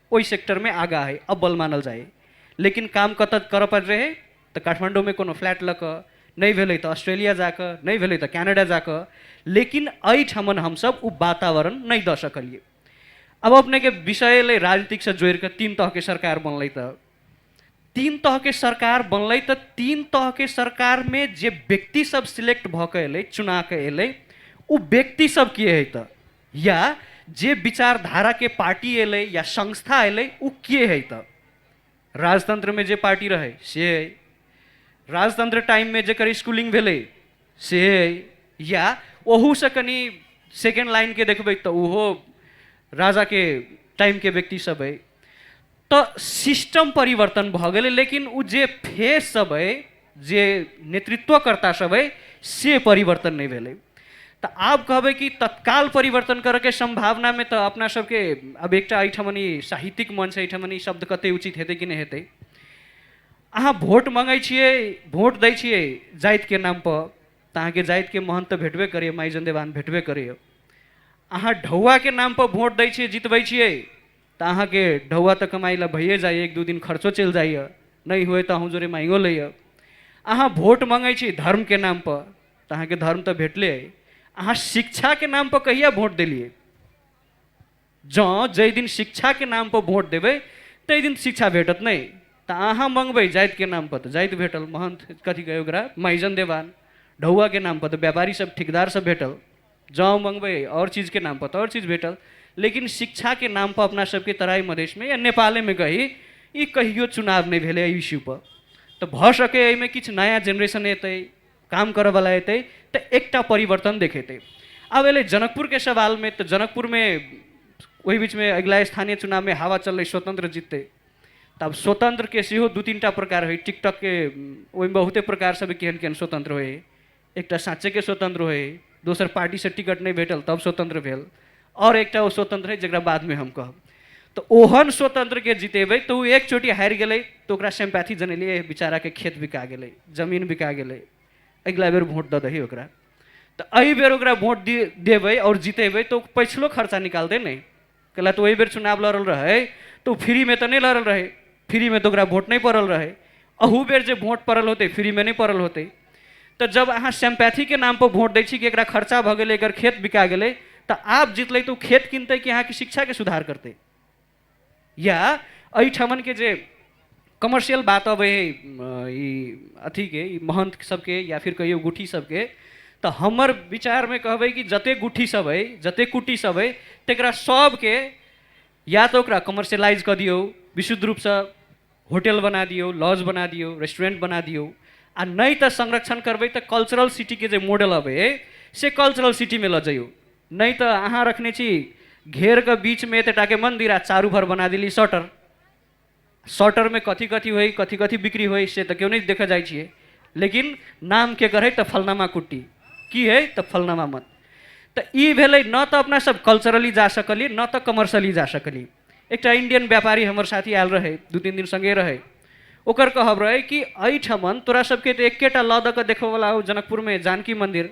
ओहि सेक्टरमे आगाँ अइ अब्बल मानल जाइए लेकिन काम कतऽ करऽ पड़ि रहै तऽ काठमाण्डूमे कोनो फ्लैट लऽ कऽ नहि भेलै तऽ ऑस्ट्रेलिया जाकऽ नहि भेलै तऽ कैनेडा जाकऽ लेकिन एहिठामन हमसब ओ वातावरण नहि दऽ सकलिए आब अपनेके विषय अएलै राजनीतिकसँ जोड़िकऽ तीन तहके सरकार बनलै तऽ तीन तह के सरकार बनल तो तीन तह के सरकार में जे व्यक्ति सब सिलेक्ट भ के अल चुना के अल उ व्यक्ति सब के है तो या जे विचारधारा के पार्टी अल या संस्था अल उ के है तो राजतंत्र में जे पार्टी रहे से है राजतंत्र टाइम में जर स्कूलिंग भेले से है या ओहू से कनी सेकेंड लाइन के देखबे तो उहो राजा के टाइम के व्यक्ति सब है तऽ सिस्टम परिवर्तन भऽ गेलै लेकिन ओ जे फेस सब अइ जे नेतृत्वकर्ता सब अइ से परिवर्तन नहि भेलै तऽ आब कहबै कि तत्काल परिवर्तन करैके सम्भावनामे तऽ अपना सबके अब एकटा एहिठाम ई साहित्यिक मंच एहिठाम ई शब्द कते उचित हेतै कि नहि हेतै अहाँ वोट मंगै छियै वोट दै छियै जातिके नाम पर तऽ अहाँके जातिके महंत तऽ भेटबे करैए माइ जन्देवान भेटबे करैए अहाँ ढौआके नाम पर वोट दै छियै जितबै छियै त अहाँ के ढौआ त कमाई ला भइए जाइए, एक दू दिन खर्चो चलि जाइए, नइँ होय त अहूँ जोरे माँगियो लइए। अहाँ भोट मँगै छी धर्म के नाम प, त अहाँ के धर्म त भेटले अइ। अहाँ शिक्षा के नाम प कहिया भोट देलिए? जँ जइ दिन शिक्षा के नाम प भोट देबै तइ दिन त शिक्षा भेटत नइँ। त अहाँ मँगबै जाइत के नाम प त जाइत भेटल, महंथ, कथी कहै ओकरा, माइजन देवान। ढौआ के नाम प त व्यापारी सब, ठिकदार सब भेटल। जँ मँगबै आओर चीजके नामपर तऽ आओर चीज भेटल लेकिन शिक्षाके नामपर अपना सबके तराई मधेशमे या नेपालेमे कही ई कहियो चुनाव नहि भेलै एहि इश्यूपर तऽ भऽ सकै एहिमे किछु नया जेनरेशन एतै काम करऽवला एतै तऽ एकटा परिवर्तन देखेतै आब एलै जनकपुरके सवालमे तऽ जनकपुरमे ओहि बीचमे अगिला स्थानीय चुनावमे हवा चललै स्वतंत्र जीततै तऽ आब स्वतंत्रके सेहो दू तीन टा प्रकार होइ टिकटॉकके ओहिमे बहुते प्रकार सब केहन केहन स्वतंत्र होइ एकटा साँचे के स्वतंत्र होय दोसर पार्टी से टिकट नहीं भेटल तब स्वतंत्र भेल और एकटा ओ स्वतंत्र है जरा बाद में हम कहब तो ओहन स्वतंत्र के जितेबे तो एक चोटी हार गए तो ओकरा सिम्पैथी जनलिए बेचारा के खेत बिका गए जमीन बिका गए अगला बेर वोट दे दही ओकरा तो अ बेर ओकरा वोट देवे और जितेबे तो पैसलो खर्चा निकाल दे नहीं कला तो वही बेर चुनाव लड़ल रहे तो फ्री में तो नहीं लड़ल रहे फ्री में तो ओकरा वोट नहीं पड़ल रहे अहू बेर जे वोट पड़ल होते फ्री में नहीं पड़ल होते तो जब अहाँ सिम्पैथी के नाम पर वोट दै छी कि एकरा खर्चा भऽ गेलै एकर खेत बिका गेलै तऽ आप जीतलै तऽ ओ खेत किनतै कि अहाँके शिक्षाके सुधार करतै या एहिठामन के जे कमर्शियल बात अब है ई अथी के ई महंत सबके या फिर कहियो गुठी सबके तो हमर विचार में कहबे कि जते गुठी सब है जते कुटी सब है तकरा सबके या तो ओकरा कमर्शियलाइज कर दियो विशुद्ध रूप से होटल बना दियो लॉज बना दियो रेस्टोरेंट बना दियो आ नहीं तो संरक्षण करबे तो कल्चरल सिटी के जे मॉडल अबे है, से कल्चरल सिटी में ल जाइयो नहीं तो अहाँ रखने छी घेर के बीच में एतटा के मंदिर आ चारू भर बना दिली शटर शॉर्ट टर्म में कथी कथी होई कथी कथी बिक्री होई से तो क्यों नहीं देखा जाए छिए लेकिन नाम के करे तो फलनामा कुट्टी की है तो फलनामा मत तो ई भेलै न तो अपना सब कल्चरली जा सकली न तो कमर्शली जा सकली एक इंडियन व्यापारी हमारे साथी आयल रहे दू तीन दिन संगे रहे ओकर कहब रहे कि एहिठमन तोरा सबके तो एकेटा लऽ दऽ कऽ देखबयवला हो जनकपुरमे जानकी मन्दिर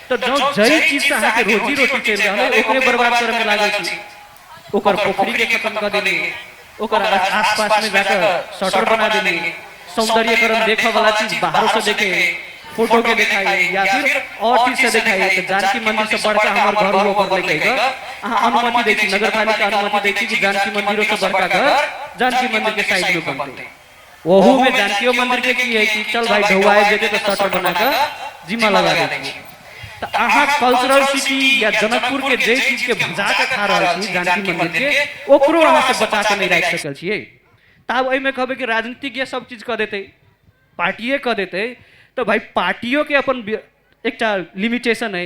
त जौ जई चीज से अहाँ के रोजी रोटी चल रहल है ओकरे बर्बाद करे में लागल छी ओकर पोखरी के खत्म कर देली ओकर आसपास में जाकर शटर बना देली सौंदर्यकरण देखे वाला चीज बाहर से देखे फोटो के दिखाई या फिर और चीज से दिखाई तो जानकी मंदिर से बढ़कर हमारे घर वो पर लेके गए अहाँ अनुमति देखी नगर पालिका अनुमति देखी कि जानकी मंदिरों से बढ़कर घर जानकी मंदिर के साइड में बनते ओहू में जानकियो मंदिर के की है कि चल भाई ढौआए जेबे तो शटर बना के जिम्मा लगा दे छी तो अहाँ कल्चरल सिटी या जनकपुर के जे चीज के भजा के खा रहल छी जानकी मंदिर के ओकरो अहाँ से बचा के नहीं राख सकल छिए तब एहि में कहबे कि राजनीतिक ये सब चीज कह देते पार्टिए कह देते तो भाई पार्टियों के अपन बि- एकटा लिमिटेशन है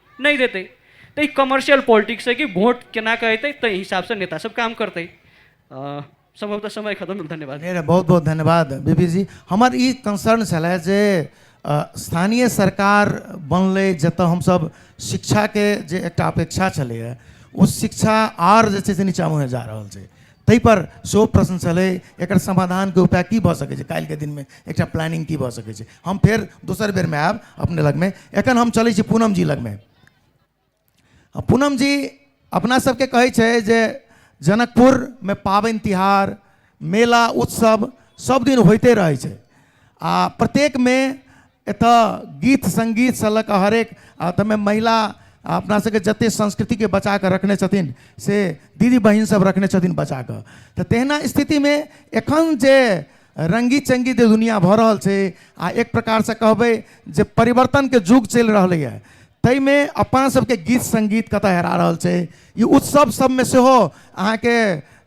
नहि देतै तऽ ई कमर्शियल पॉलिटिक्स है कि वोट केना कऽ अयतै ताहि हिसाबसँ नेता सब काम करतै अ, सम्भवतः समय खतम भेल धन्यवाद अरे बहुत बहुत धन्यवाद बीबी जी हमर ई कंसर्न छलै जे अ, स्थानीय सरकार बनलै जतऽ हमसब शिक्षाके जे एकटा अपेक्षा छलैए ओ शिक्षा आर जे छै से नीचाँ मुँहे जा रहल छै ताहिपर सेहो प्रश्न छलै एकर समाधानके उपाय की भऽ सकै छै काल्हिके दिनमे एकटा प्लानिंग की भऽ सकै छै हम फेर दोसर बेरमे आयब अपने लगमे एखन हम चलै छी पूनम जी लगमे आ पूनम जी अपना सबके कहै छै जे जनकपुरमे पाबनि तिहार मेला उत्सव सब दिन होइते रहै छै आ प्रत्येकमे एतऽ गीत संगीत से लऽ कऽ हरेक आ तमे महिला आ अपना सबके जते संस्कृति के बचा कऽ रखने छथिन से दीदी बहिन सब रखने छथिन बचा कऽ तऽ तहिना स्थिति मे एखन जे रंगी चंगी जे दुनिया भऽ रहल छै आ एक प्रकार से कहबै जे परिवर्तन के युग चलि रहलैए ताहिमे अपन सबके गीत संगीत कतऽ हेरा रहल छै ई उत्सव सबमे सेहो अहाँके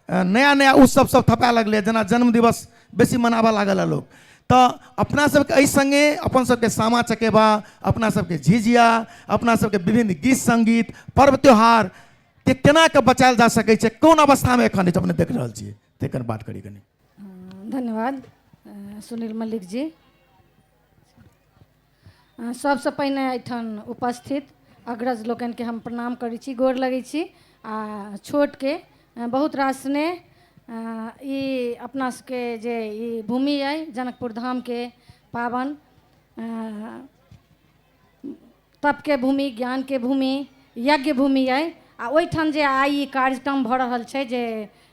अ, नया नया उत्सव सब थपए लगलै जेना जन्म दिवस बेसी मनाबऽ लागल लोक तऽ अपना सबके एहि सङ्गे अपन सबके सामा चकेबा अपना सबके झिझिया अपना सबके विभिन्न गीत सङ्गीत पर्व त्यौहार के केना कऽ बचायल जा सकै छै कोन अवस्थामे एखन अछि अपने देख रहल छियै तेकर बात करी कनी धन्यवाद अ, सुनील मल्लिक जी सभसँ पहिने एहिठाम उपस्थित अग्रज लोकनिके हम प्रणाम करै छी गोर लगै छी आ छोटके बहुत रास स्नेह ई अपना सबके जे ई भूमि अइ जनकपुर धामके पावन तप के भूमि, ज्ञान के भूमि, यज्ञ भूमि अइ आ ओहिठाम जे आइ ई कार्यक्रम भऽ रहल छै जे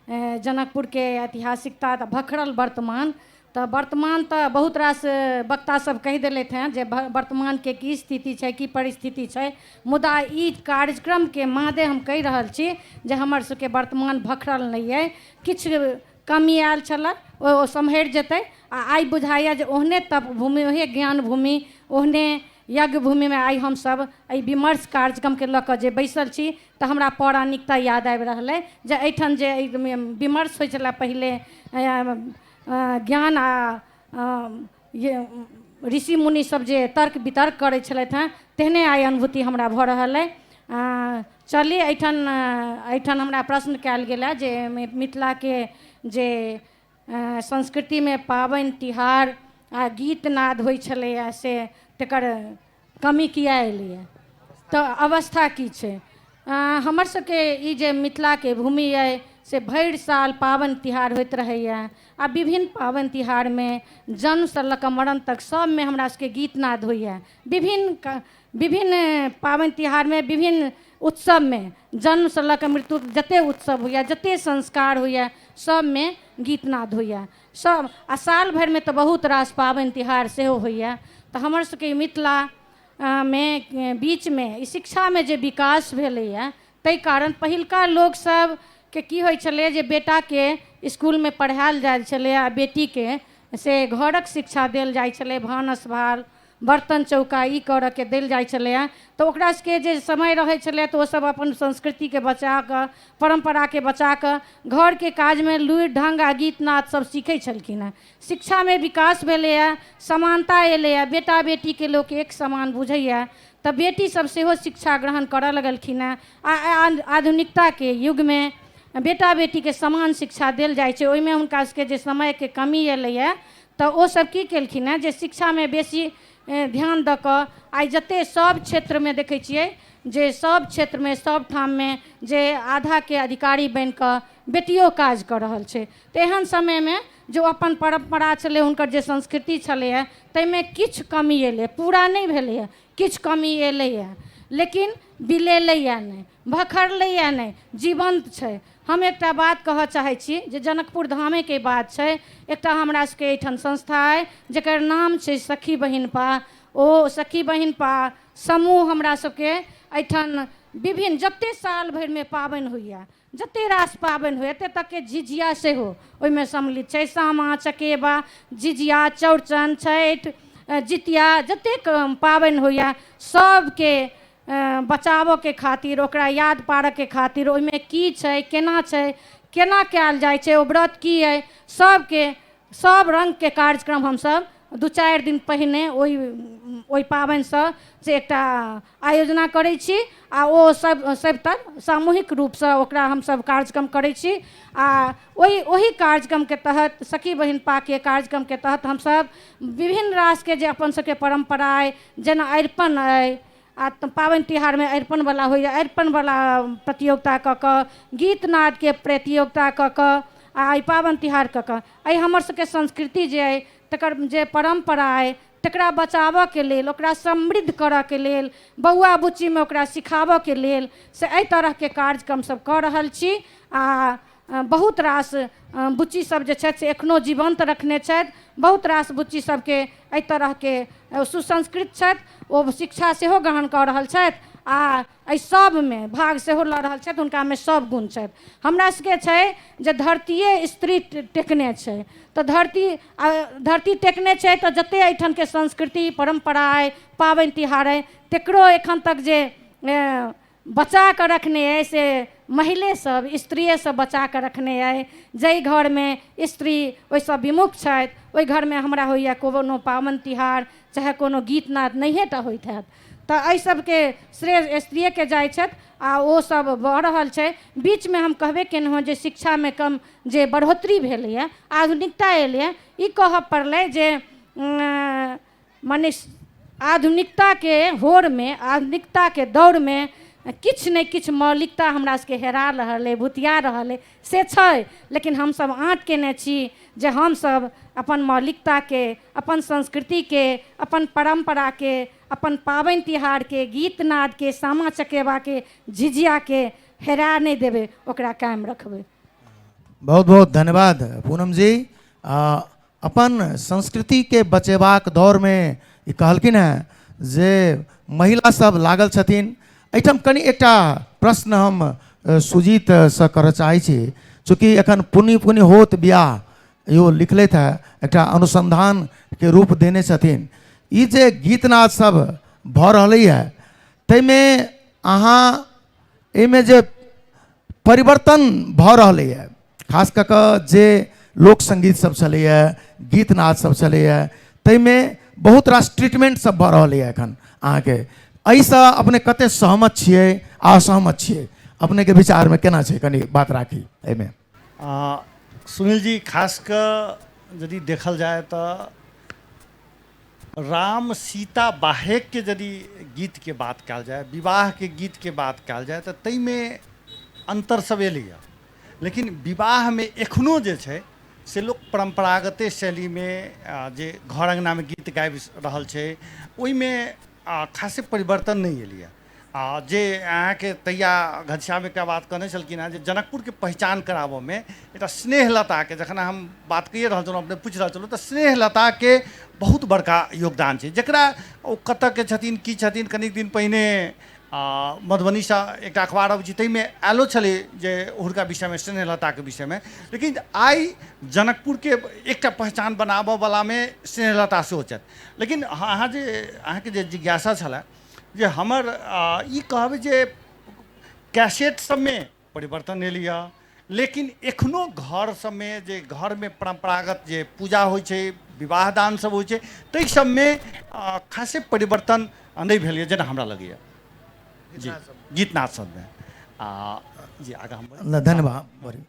जनकपुर के ऐतिहासिकता तऽ भखरल वर्तमान तऽ वर्तमान तऽ बहुत रास वक्ता सब कहि देलथि हैं जे वर्तमान के की स्थिति छै की परिस्थिति छै मुदा ई कार्यक्रम के मादे हम कहि रहल छी जे हमर सबके वर्तमान भखरल नहि अइ किछु कमी आयल छलऽ ओ सम्हरि जेतै आ आइ बुझाइया जे ओहने तप भूमि ओहे ज्ञान भूमि ओहने यज्ञभूमिमे आइ हम सभ एहि विमर्श कार्यक्रमकेँ लऽ कऽ जे बैसल छी तऽ हमरा पौराणिकता याद आबि रहल अइ जे एहिठाम जे विमर्श होइ छलए पहिले ज्ञान आ ऋषि मुनि सब जे तर्क वितर्क करै छलथि हँ तेहने आइ अनुभूति हमरा भऽ रहल अइ चली एहिठाम एहिठाम हमरा प्रश्न कयल गेल हँ जे मिथिलाके जे संस्कृतिमे पाबनि तिहार आ गीत नाद होइ छलैए से तकर कमी किए एलैए तऽ अवस्था की छै हमर सबके ई जे मिथिलाके भूमि अइ से भरि साल पाबनि तिहार होइत रहैए आ विभिन्न पाबनि तिहारमे जन्मसँ लऽ कऽ मरण तक सबमे हमरा सबके गीत नाद होइए विभिन्न विभिन्न पाबनि तिहारमे विभिन्न उत्सवमे जन्मसँ लऽ कऽ मृत्यु जते उत्सव होइए जते संस्कार होइए सभमे गीतनाद होइए सभ आ साल भरिमे तऽ बहुत रास पाबनि तिहार सेहो होइए तऽ हमर सभके मिथिला मे बीचमे ई शिक्षामे जे विकास भेलैए ताहि कारण पहिलका लोकसभ के की होइ छलै जे बेटाके इसकुलमे पढ़ायल जाइ छलै आ बेटीके से घरक शिक्षा देल जाइ छलै भानस भार बर्तन चौका ई करऽ के देल जाइ छलै हँ तऽ ओकरा सबके जे समय रहै छलै तऽ ओ सब अपन संस्कृति के बचा कऽ परम्परा के बचा कऽ घर के काज मे लुरि ढंग आ गीत नाद सब सीखै छलखिन हँ शिक्षा मे विकास भेलैया समानता एलैया बेटा बेटी के लोक एक समान बुझैया तऽ बेटी सब सेहो शिक्षा ग्रहण करऽ लगलखिन हँ आ आ- आधुनिकता के युग मे बेटा बेटी के समान शिक्षा देल जाइ छै ओहिमे हुनका सबके जे समय के कमी एलैया त ओ सब की केलखिन हँ जे शिक्षा मे बेसी ध्यान द क आइ जते सब क्षेत्र मे देखै छियै जे सब क्षेत्र मे सब ठाम मे जे आधा के अधिकारी बनि क बेटियो काज क रहल छै त एहन समय मे जे ओ अपन परम्परा छलै हुनकर जे संस्कृति छलैया ताहि मे किछु कमी एलैया पूरा नहि भेलैया किछु कमी एलैया लेकिन बिलेलैया नहि भखरलैए नहि जीवन्त छै हम एकटा बात कहऽ चाहै छी जे जनकपुर धामेके बात छै एकटा हमरा सबके एहिठाम संस्था अइ जकर नाम छै सखी बहिन पा ओ सखी बहिन पा समूह हमरा सबके एहिठाम विभिन्न जतेक साल भरिमे पाबनि होइए जतेक रास पाबनि होइए एतेक तकके झिझिया सेहो ओहिमे सम्मिलित छै सामा चकेबा झिझिया चौड़चन छठि जितिया जतेक पाबनि होइए सबके बचाबऽके खातिर ओकरा याद पारऽके खातिर ओहिमे की छै केना छै केना कयल जाइ छै ओ व्रत की अहि सबके सब रङ्गके कार्यक्रम हमसब दू चारि दिन पहिने ओहि ओहि पाबनिसँ से एकटा आयोजना करै छी आओर ओ सब सब तब सामूहिक रूपसँ ओकरा हमसब कार्यक्रम करै छी आओर ओहि ओहि कार्यक्रमके तहत सखी बहिन पाके कार्यक्रमके तहत हमसब विभिन्न रासके जे अपन सबके परम्परा अहि जेना अरिपन अइ आ पाबनि तिहारमे अरिपन बला होइया अरिपन बला प्रतियोगिता कऽ कऽ गीत नादके प्रतियोगिता कऽ कऽ आ एहि पाबनि तिहार कऽ कऽ एहि हमर सबके संस्कृति जे अइ तकर जे परम्परा अइ तकरा बचाबऽके लेल ओकरा समृद्ध करऽके लेल बौआ बुच्चीमे ओकरा सिखाबऽके लेल से एहि तरहके कार्यक्रम सब कऽ रहल छी आ बहुत रास बुच्ची सब जे छथि से एखनो जीवन्त रखने छथि बहुत रास बुच्ची सबके एहि तरहके सुसंस्कृत छथि ओ शिक्षा सेहो ग्रहण कऽ रहल छथि आ एहि सबमे भाग सेहो लऽ रहल छथि हुनकामे सब गुण छथि हमरा सबके छै जे धरतीये स्त्री टेकने छै तऽ धरती आ धरती टेकने छै तऽ जते एहिठामके संस्कृति परम्परा अइ पाबनि तिहार अइ तेकरो एखन तक जे बचा कऽ रखने अइ से महिलेसभ स्त्रिएसभ बचा कऽ रखने अइ जाहि घरमे स्त्री ओहिसँ विमुख छथि ओहि घरमे हमरा होइए कोनो पाबनि तिहार चाहे कोनो गीत नाद नहिए टा होइत हैत तऽ एहिसभके श्रेय स्त्रिएकेँ जाइत छथि आ ओसभ भऽ रहल छै बीचमे हम कहबे केलहुँ हेँ जे शिक्षामे कम जे बढ़ोतरी भेलैए आधुनिकता एलैए ई कहय पड़लै जे मने आधुनिकताके होड़मे आधुनिकताके दौड़मे किछु ने किछु मौलिकता हमरा सबके हेरा रहल अइ भुतिया रहल अइ से छै लेकिन हमसब आँट केने छी जे हमसब अपन मौलिकताके अपन संस्कृतिके अपन परम्पराके अपन पाबनि तिहारके गीत नादके सामा चकेबाके झिझियाके हेरा नहि देबै ओकरा कायम रखबै बहुत बहुत धन्यवाद पूनम जी आ अपन संस्कृतिके बचेबाक दौड़मे ई कहलखिन हेँ जे महिलासभ लागल छथिन एहिठाम कनि एकटा प्रश्न हम सुजीतसँ करय चाहै छी चूँकि एखन पुनि पुनि होत बियाह इहो लिखलथि हेँ एकटा अनुसन्धानके रूप देने छथिन ई जे गीतनादसभ भऽ रहलैए ताहिमे अहाँ एहिमे जे परिवर्तन भऽ रहलैए खास कऽ कऽ जे लोक संगीत सब छलैए गीत नाद सब छलैए ताहिमे बहुत रास ट्रीटमेंट सब भऽ रहलैए एखन अहाँके एहिसँ अपने कते सहमत छियै असहमत छियै अपनेके विचारमे केना छै कनि बात राखी एहिमे आ, सुनील जी खास क यदि देखल जाए त राम सीता बाहेक के यदि गीत के बात कल जाए विवाह के गीत के बात कल जाए त तई में अंतर सब एले है। लेकिन विवाह में एखनो जे छै से लोग परंपरागते शैली में आ, जे घर अंगना में गीत गाबि रहल छै ओई में आ खासे परिवर्तन नहि एलैए आ जे अहाँके तहिया घनश्याम एकटा बात कहने छलखिन हेँ जे जनकपुरके पहिचान कराबऽमे एकटा स्नेहलताके जखन हम बात कहिए रहल छलहुँ अपने पूछि रहल छलहुँ तऽ स्नेहलताके बहुत बड़का योगदान छै जकरा ओ कतऽके छथिन की छथिन कनिक दिन पहिने मधुबनीसँ एकटा अखबार अबै छै ताहिमे आयलो छलै जे हुनका विषयमे स्नेहलताके विषयमे लेकिन आइ जनकपुरके एकटा पहिचान बनाबऽवलामे स्नेहलता सेहो छथि लेकिन अहाँ अहाँ जे अहाँके जे जिज्ञासा छलए जे हमर आ, ई कहबै जे कैसेट सबमे परिवर्तन एलै हँ लेकिन एखनो घर सबमे जे घरमे परम्परागत जे पूजा होइ छै विवाह दान सब होइ छै ताहि सबमे आ, खासे परिवर्तन नहि भेल यऽ जेना हमरा लगैए जी गीतनाद सबमे आ जी आगाँ हम नहि धन्यवाद बड़ी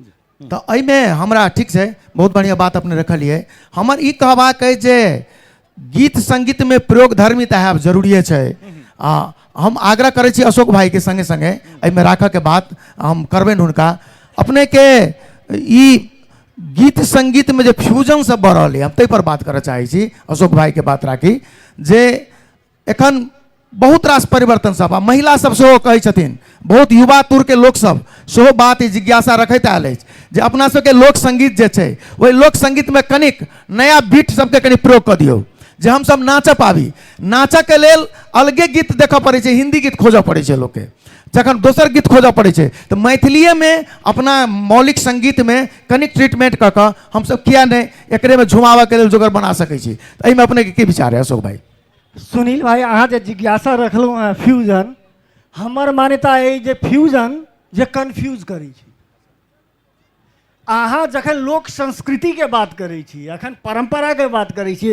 तऽ एहिमे हमरा ठीक छै बहुत बढ़िआँ बात अपने रखलियै हमर ई कहबाक अइ जे गीत संगीतमे प्रयोग धर्मी तऽ आयब जरूरिए छै आ हम आग्रह करै छी अशोक भाईके संगे संगे एहिमे राखऽके बात हम करबनि हुनका अपनेके ई गीत संगीतमे जे फ्यूजन सब भऽ रहल अइ हम ताहि पर बात करऽ चाहै छी अशोक भाईके बात राखी जे एखन बहुत रास परिवर्तन सब आ महिला सब सेहो कहै छथिन बहुत युवा तुर के लोक सब सेहो बात ई जिज्ञासा रखैत आयल अछि जे अपना सबके लोक संगीत जे छै ओहि लोक संगीत में कनिक नया बीट सबके कनि प्रयोग कऽ दियौ जे हमसब नाचऽ पाबी नाचऽ के लेल अलगे गीत देखऽ पड़ै छै हिंदी गीत खोजऽ पड़ै छै लोकके जखन दोसर गीत खोजऽ पड़ै छै तऽ मैथिलिएमे अपना मौलिक संगीतमे कनिक ट्रीटमेंट कऽ कऽ हमसब किया नहि एकरेमे झुमाबऽके लेल जोगर बना सकै छी तऽ एहिमे अपनेके की विचार अइ अशोक भाई सुनील भाई अहाँ जे जिज्ञासा रखलहुँ हँ फ्यूजन हमर मान्यता अइ जे फ्यूजन जे कन्फ्यूज करै छै अहाँ जखन लोक संस्कृतिके बात करै छी अखन परम्पराके बात करै छी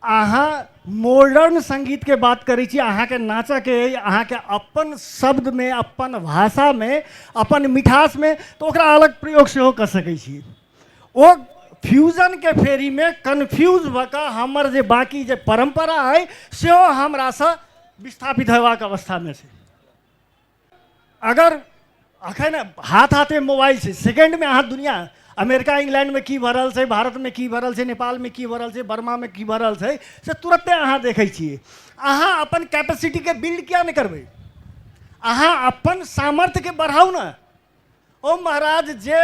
अहाँ मॉडर्न सङ्गीतके बात करै छी अहाँके नाचऽके अइ अहाँके अपन शब्दमे अपन भाषामे अपन मिठासमे तऽ ओकरा अलग प्रयोग सेहो कऽ सकै छी ओ फ्यूजनके फेरीमे कन्फ्यूज भऽ कऽ हमर जे बाँकी जे परम्परा अइ सेहो हमरासँ विस्थापित होयबाक अवस्थामे छै अगर अखन हाथ हाथे मोबाइल छै सेकेंडमे अहाँ दुनिया अमेरिका इंग्लैंडमे की भऽ रहल छै भारतमे की भऽ रहल छै नेपालमे की भऽ रहल छै बर्मामे की भऽ रहल छै से तुरते अहाँ देखै छियै अहाँ अपन कैपेसिटीके बिल्ड किया नहि करबै अहाँ अपन सामर्थ्यके बढ़ाउ ने ओ महाराज जे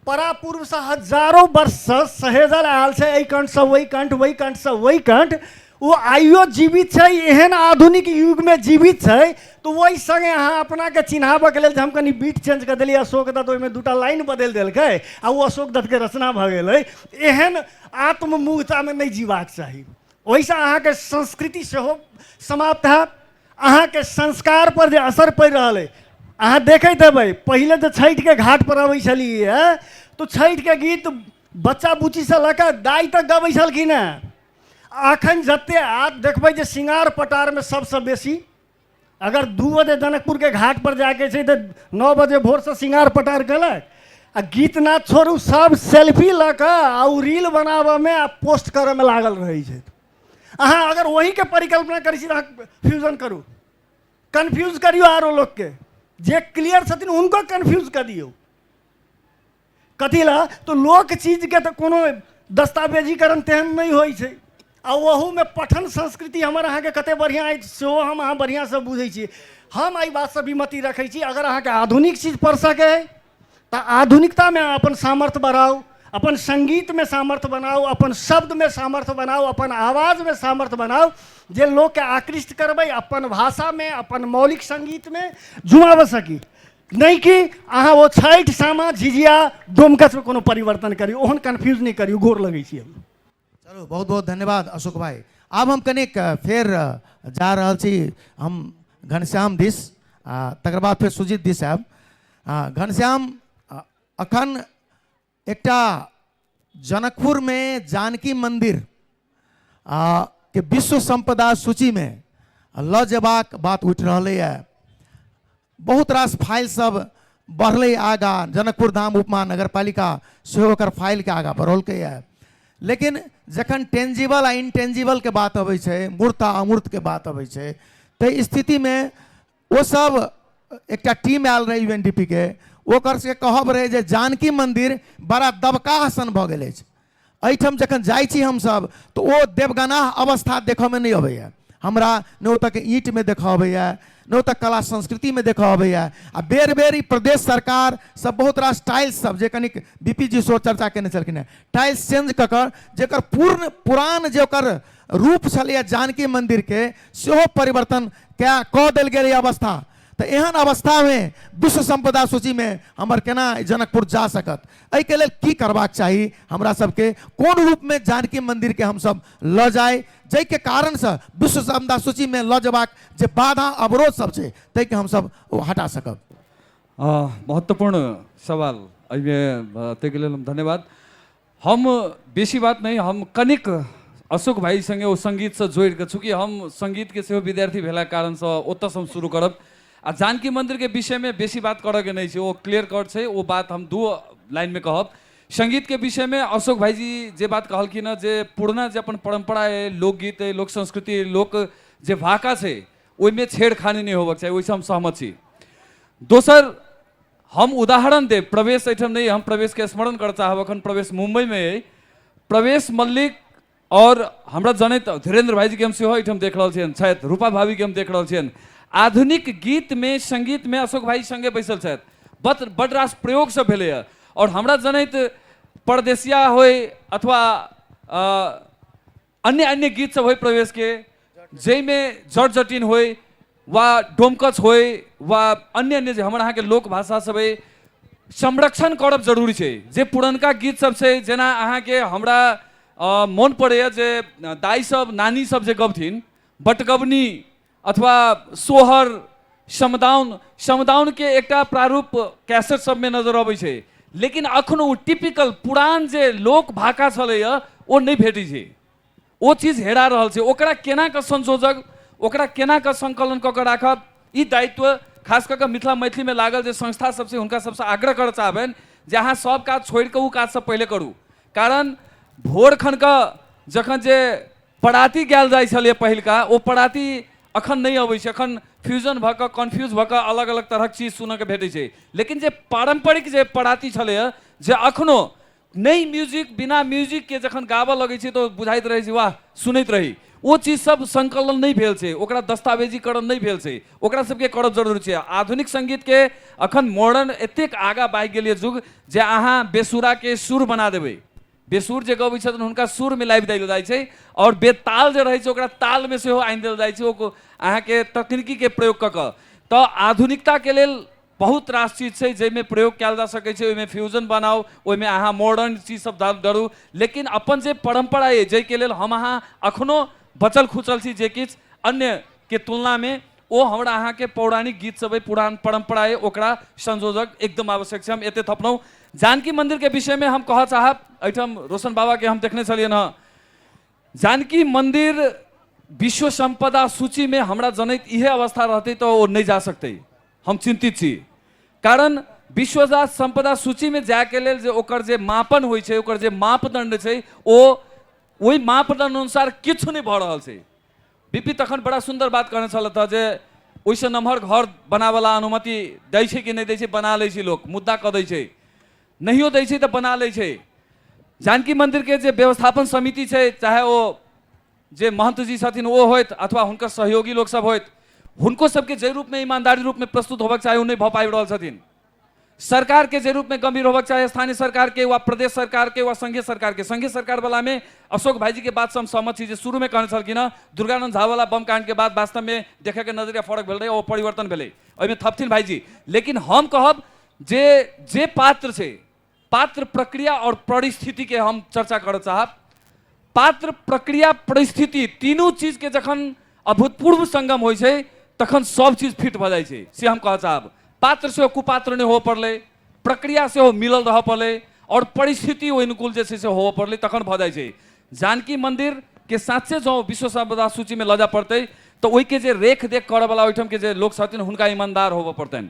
परापूर्वसँ हजारों वर्षसँ सहेजल आयल छै एहि कण्ठसँ ओहि कण्ठ ओहि कण्ठसँ ओहि कण्ठ ओ आइयो जीवित छै एहन आधुनिक युगमे जीवित छै तऽ ओहि सङ्गे अहाँ अपनाके चिन्हाबऽके लेल जे हम कनि बीट चेंज कऽ देलियै अशोक दत्त ओहिमे दूटा लाइन बदलि देलकै आ ओ अशोक दत्तके रचना भऽ गेलै एहन आत्ममूर्तामे नहि जीबाक चाही ओहिसँ अहाँके संस्कृति सेहो समाप्त हैत अहाँके संस्कार पर जे असर पड़ि रहल अइ अहाँ देखैत हेबै पहिले जे छठिके घाट पर अबै छलियै तऽ छठिके गीत बच्चा बुच्चीसँ लऽ कऽ दाइ तक गबै छलखिन हेँ अखन जते आब देखबै जे सिंगार पटारमे सबसँ बेसी अगर दू बजे जनकपुरके घाट पर जाके छै तऽ नओ बजे भोरसँ सिंगार पटार केलक आ गीत नाद छोड़ू सब सेल्फी लऽ कऽ आ ओ रील बनाबऽमे आ पोस्ट करऽमे लागल रहै छथि अहाँ अगर वहीके परिकल्पना करै छी तऽ अहाँ फ्यूजन करू कन्फ्यूज करियौ आरो लोकके जे क्लियर छथिन हुनको कन्फ्यूज कऽ दियौ कथी लए तऽ लोक चीजके तऽ कोनो दस्तावेजीकरण तेहन नहि होइ छै आ ओहूमे पठन संस्कृति हमर अहाँके कतेक बढ़िआँ अछि सेहो हम अहाँ बढ़िआँसँ बुझै छी हम एहि बातसँ विमति रखै छी अगर अहाँके आधुनिक चीज पढ़ि सकै तऽ आधुनिकतामे अपन सामर्थ्य बढ़ाउ अपन सङ्गीतमे सामर्थ्य बनाउ अपन शब्दमे सामर्थ्य बनाउ अपन आवाजमे सामर्थ्य बनाउ जे लोकके आकृष्ट करबै अपन भाषामे अपन मौलिक सङ्गीतमे जुमाबऽ सकी नहि कि अहाँ ओ छठि सामा झिझिया डोमकछमे कोनो परिवर्तन करी ओहन कन्फ्यूज नहि करी गोर लगै छी हम चलू बहुत बहुत धन्यवाद अशोक भाई आब हम कनिक अ, फेर अ, जा रहल छी हम घनश्याम दिस आ तकर बाद फेर सुजीत दिस आयब आ घनश्याम अ, अखन एकटा जनकपुरमे जानकी मन्दिर आ के विश्व सम्पदा सूचीमे लऽ जेबाक बात उठि रहलैए बहुत रास फाइल सब बढ़लै आगा जनकपुर धाम उपमा नगर पालिका सेहो ओकर फाइलके आगा बढ़ौलकै है लेकिन जखन टेंजिबल आ इनटेंजिबलके बात अबै छै मूर्त आ अमूर्तके बात अबै छै ताहि स्थितिमे ओ सब एकटा टीम आयल रहै यू एन डी पी के ओकर सबके कहब रहै जे जानकी मन्दिर बड़ा दबकाह सन भऽ गेल अछि एहिठाम जखन जाइ छी हमसभ तऽ ओ देवगनाह अवस्था देखऽमे नहि अबैए हमरा ने ओतऽके ईंटमे देखऽ अबैए ने ओतऽ कला संस्कृतिमे देखऽ अबैए आ बेर बेर ई प्रदेश सरकार सब बहुत रास टाइल्स सब जे कनिक बी पी जी सेहो चर्चा केने छलखिन हेँ टाइल्स चेंज कऽ कऽ जेकर पूर्ण पुरान जे ओकर रूप छलैए जानकी मन्दिरके सेहो परिवर्तन कए कऽ देल गेल अइ अवस्था तऽ एहन अवस्थामे विश्व सम्पदा सूचीमे हमर केना जनकपुर जा सकत एहिके लेल की करबाक चाही हमरा सबके कोन रूपमे जानकी मन्दिरके हमसब लऽ जाइ जाहिके कारणसँ विश्व सम्पदा सूचीमे लऽ जयबाक जे बाधा अवरोध सब छै ताहिके हमसब ओ हटा सकब अ, महत्वपूर्ण सवाल एहिमे अ, ताहिके लेल हम धन्यवाद हम बेसी बात नै हम कनिक अशोक भाइ सँगे ओ सङ्गीतसँ जोड़ि कऽ चूँकि हम सङ्गीतके सेहो विद्यार्थी भेलाक कारणसँ ओतयसँ हम शुरू करब आ जानकी मन्दिरके विषयमे बेसी बात करयके नहि छै ओ क्लियर कट छै ओ बात हम दू लाइनमे कहब सङ्गीतके विषयमे अशोक भाइजी जे बात कहलखिन हँ जे पुरना जे अपन परम्परा अइ लोकगीत अइ लोक संस्कृति अइ लोक जे भाका छै ओहिमे छेड़खानी नहि होबक चाही ओहिसँ हम सहमत छी दोसर हम उदाहरण देव प्रवेश एहिठाम नहीं हम प्रवेश के स्मरण कर चाहब अखन प्रवेश मुंबई में है प्रवेश मल्लिक और हमरा जनैत धीरेन्द्र भाई जी के हम सेहो एहिठाम देख रहल छियनि छथि रूपा भाभी के हम देख रहल छियनि आधुनिक गीत में संगीत में अशोक भाई संगे बैसल छथि बत बड रास प्रयोग सब भेले है और हमरा जनैत परदेसिया होय अथवा अन्य अन्य गीत सब होइ प्रवेश के जय में जट जटिन होइ वा डोमकच होइ वा अन्य अन्य जे हमर अहाँके लोक भाषा सब अइ संरक्षण करब जरूरी छै जे पुरनका गीत सब छै जेना अहाँके हमरा अ, मोन पड़ैए जे दाई सब नानी सब जे गबथिन बटगबनी अथवा सोहर समदाउन समदाउनके एकटा प्रारूप कैसेट सबमे नजर अबै छै लेकिन अखन ओ टिपिकल पुरान जे लोक भाका छलैए ओ नहि भेटै छै ओ चीज हेरा रहल छै ओकरा केना कऽ संशोधक ओकरा केना कऽ संकलन कऽ कऽ राखब ई दायित्व खास कऽ कऽ मिथिला मैथिलीमे लागल जे संस्था सबसँ हुनका सबसँ आग्रह करऽ चाहबनि जे अहाँ सब काज छोड़ि कऽ ओ काजसँ पहिले करू कारण भोर खनके जखन जे पराती गायल जाइ छलै पहिलका ओ पराती अखन नहि अबै छै अखन फ्यूजन भऽ कऽ कन्फ्यूज भऽ कऽ अलग अलग तरहक चीज सुनऽके भेटै छै लेकिन जे पारम्परिक जे पराती छलैए जे अखनो नहि म्यूजिक बिना म्यूजिकके जखन गाबऽ लगै छै तऽ बुझाइत रहै छै वाह सुनैत रही ओ चीज सब संकलन नहि भेल छै ओकरा दस्तावेजीकरण नहि भेल छै ओकरा सबके करब जरूरी छै आधुनिक संगीतके अखन मॉडर्न एतेक आगाँ भागि गेल यऽ युग जे अहाँ बेसुराके सुर बना देबै बेसुर जे गबै छथिन हुनका सुरमे लाबि देल जाइ छै आओर बेताल जे रहै छै ओकरा तालमे सेहो आनि देल जाइ छै ओ को- अहाँके तकनीकीके प्रयोग कऽ कऽ तऽ आधुनिकताके लेल बहुत रास चीज छै जाहिमे प्रयोग कयल जा सकै छै ओहिमे फ्यूजन बनाउ ओहिमे अहाँ मॉडर्न चीज सब डाल- डालू लेकिन अपन जे परम्परा अइ जाहिके लेल हम अहाँ अखनो बचल खुचल छी जे किछु अन्यके तुलनामे ओ हमरा अहाँके पौराणिक गीत सब पुरान परंपरा है ओकरा संयोजक एकदम आवश्यक है हम एते थपलहुँ जानकी मंदिर के विषय में हम कह चाहब एहिठाम रोशन बाबा के हम देखने छलिए हँ जानकी मंदिर विश्व संपदा सूची में हमरा जनैत इहे अवस्था रहते तो वो नहीं जा सकते हम चिंतित छी कारण विश्व संपदा सूची में जाके लेल जे ओकर जे मापन होइ छै ओकर जे मापदंड छै ओ ओहि मापदंड अनुसार किछु नहि भऽ रहल छै बीपी तखन बड़ा सुंदर बात कहने छलथि हँ जे ओहिसँ नमहर घर बनाबयला अनुमति दै छै कि नहि दै छै बना लै छै लोक मुद्दा कऽ दै छै नहियो दै छै तऽ बना लै छै जानकी मन्दिरके जे व्यवस्थापन समिति छै चाहे ओ जे महन्तजी छथिन ओ होथि अथवा हुनकर सहयोगी लोकसभ होथि हुनको सभके जाहि रूपमे ईमानदारी रूपमे प्रस्तुत होबक चाही ओ नहि भऽ पाबि रहल छथिन सरकार के जे रूप में गंभीर होबक चाहे स्थानीय सरकार के वा प्रदेश सरकार के वा संघीय सरकार के संघीय सरकार वाला में अशोक भाई जी के बात से हम सहमत छी जे शुरू में कहने छलखिन हँ दुर्गानंद झा वाला बम कांड के बाद वास्तव में देखे के नजरिया फर्क भेल रहे ओ परिवर्तन भेलै ओहिमे थपथिन भाई जी लेकिन हम कहब जे जे पात्र छै पात्र प्रक्रिया और परिस्थिति के हम चर्चा करऽ चाहब पात्र प्रक्रिया परिस्थिति तीनू चीज के जखन अभूतपूर्व संगम होइ छै तखन सब चीज फिट भऽ जाइ छै से हम कहऽ चाहब पात्र सेहो कुपात्र नहि होबऽ पड़लै प्रक्रिया सेहो मिलल रहऽ पड़लै और परिस्थिति ओहि अनुकूल जे छै से होबऽ पड़लै तखन भऽ जाइ छै जानकी मंदिर के साँचे जँ विश्व संपदा सूची में लऽ जाय पड़तै तऽ ओहिके जे रेख देख करऽवला ओहिठाम के जे लोक छथिन हुनका ईमानदार होबऽ पड़तनि